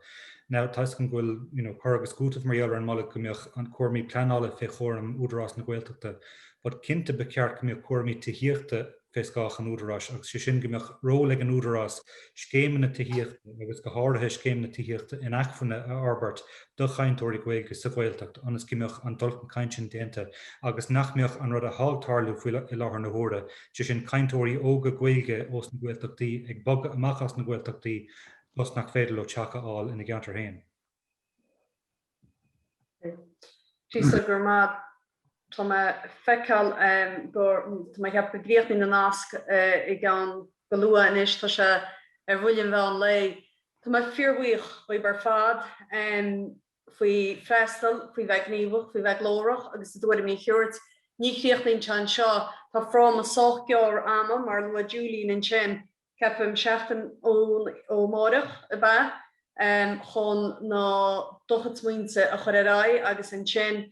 Now, tuigim go bhfuil, you know, cur agus cúiteamh mar gheall ar an moladh go mbeadh cúraimí pleanála fé chúram Údarás na Gaeltachta but cinnte ba cheart go mbeadh cúraimí tithíochta fé scáth an Údaráis agus sé sin go mbeadh ról ag an Údarás scéimeanna tithíochta agus go háirithe scéimeanna tithíochta inacmhainne a fhorbairt do chainteoirí Gaeilge sa Ghaeltacht ionas go mbeadh an dul chun cinn sin déanta agus nach mbeadh an rud atá ag tarlú faoi láthair na huaire, sé sin cainteoirí óga Gaeilge as na Gaeltachtaí ag bogadh amach as na Gaeltachtaí toisc nach féidir leo teach a fháil ina gceantar féin. Tá mé ag feiceáil go, tá mé ag ceapadh go gcríochnóidh an nasc i gceann go luath anois, tá sé ar bhuille an mheán lae. Tá mé fíorbhuíoch dhaoibh ar fad faoi freastal, faoi bheith gníomhach, faoi bheith glórach agus bhur dtuairimí a thabhairt. Ní chríochnaíonn sé anseo, tá fráma sách gearr ama, mar a luaigh Julian ansin, ceapaim seachtain ó amárach ab ea? chun bhur gcuid smaointe a chur ar aghaidh agus ansin,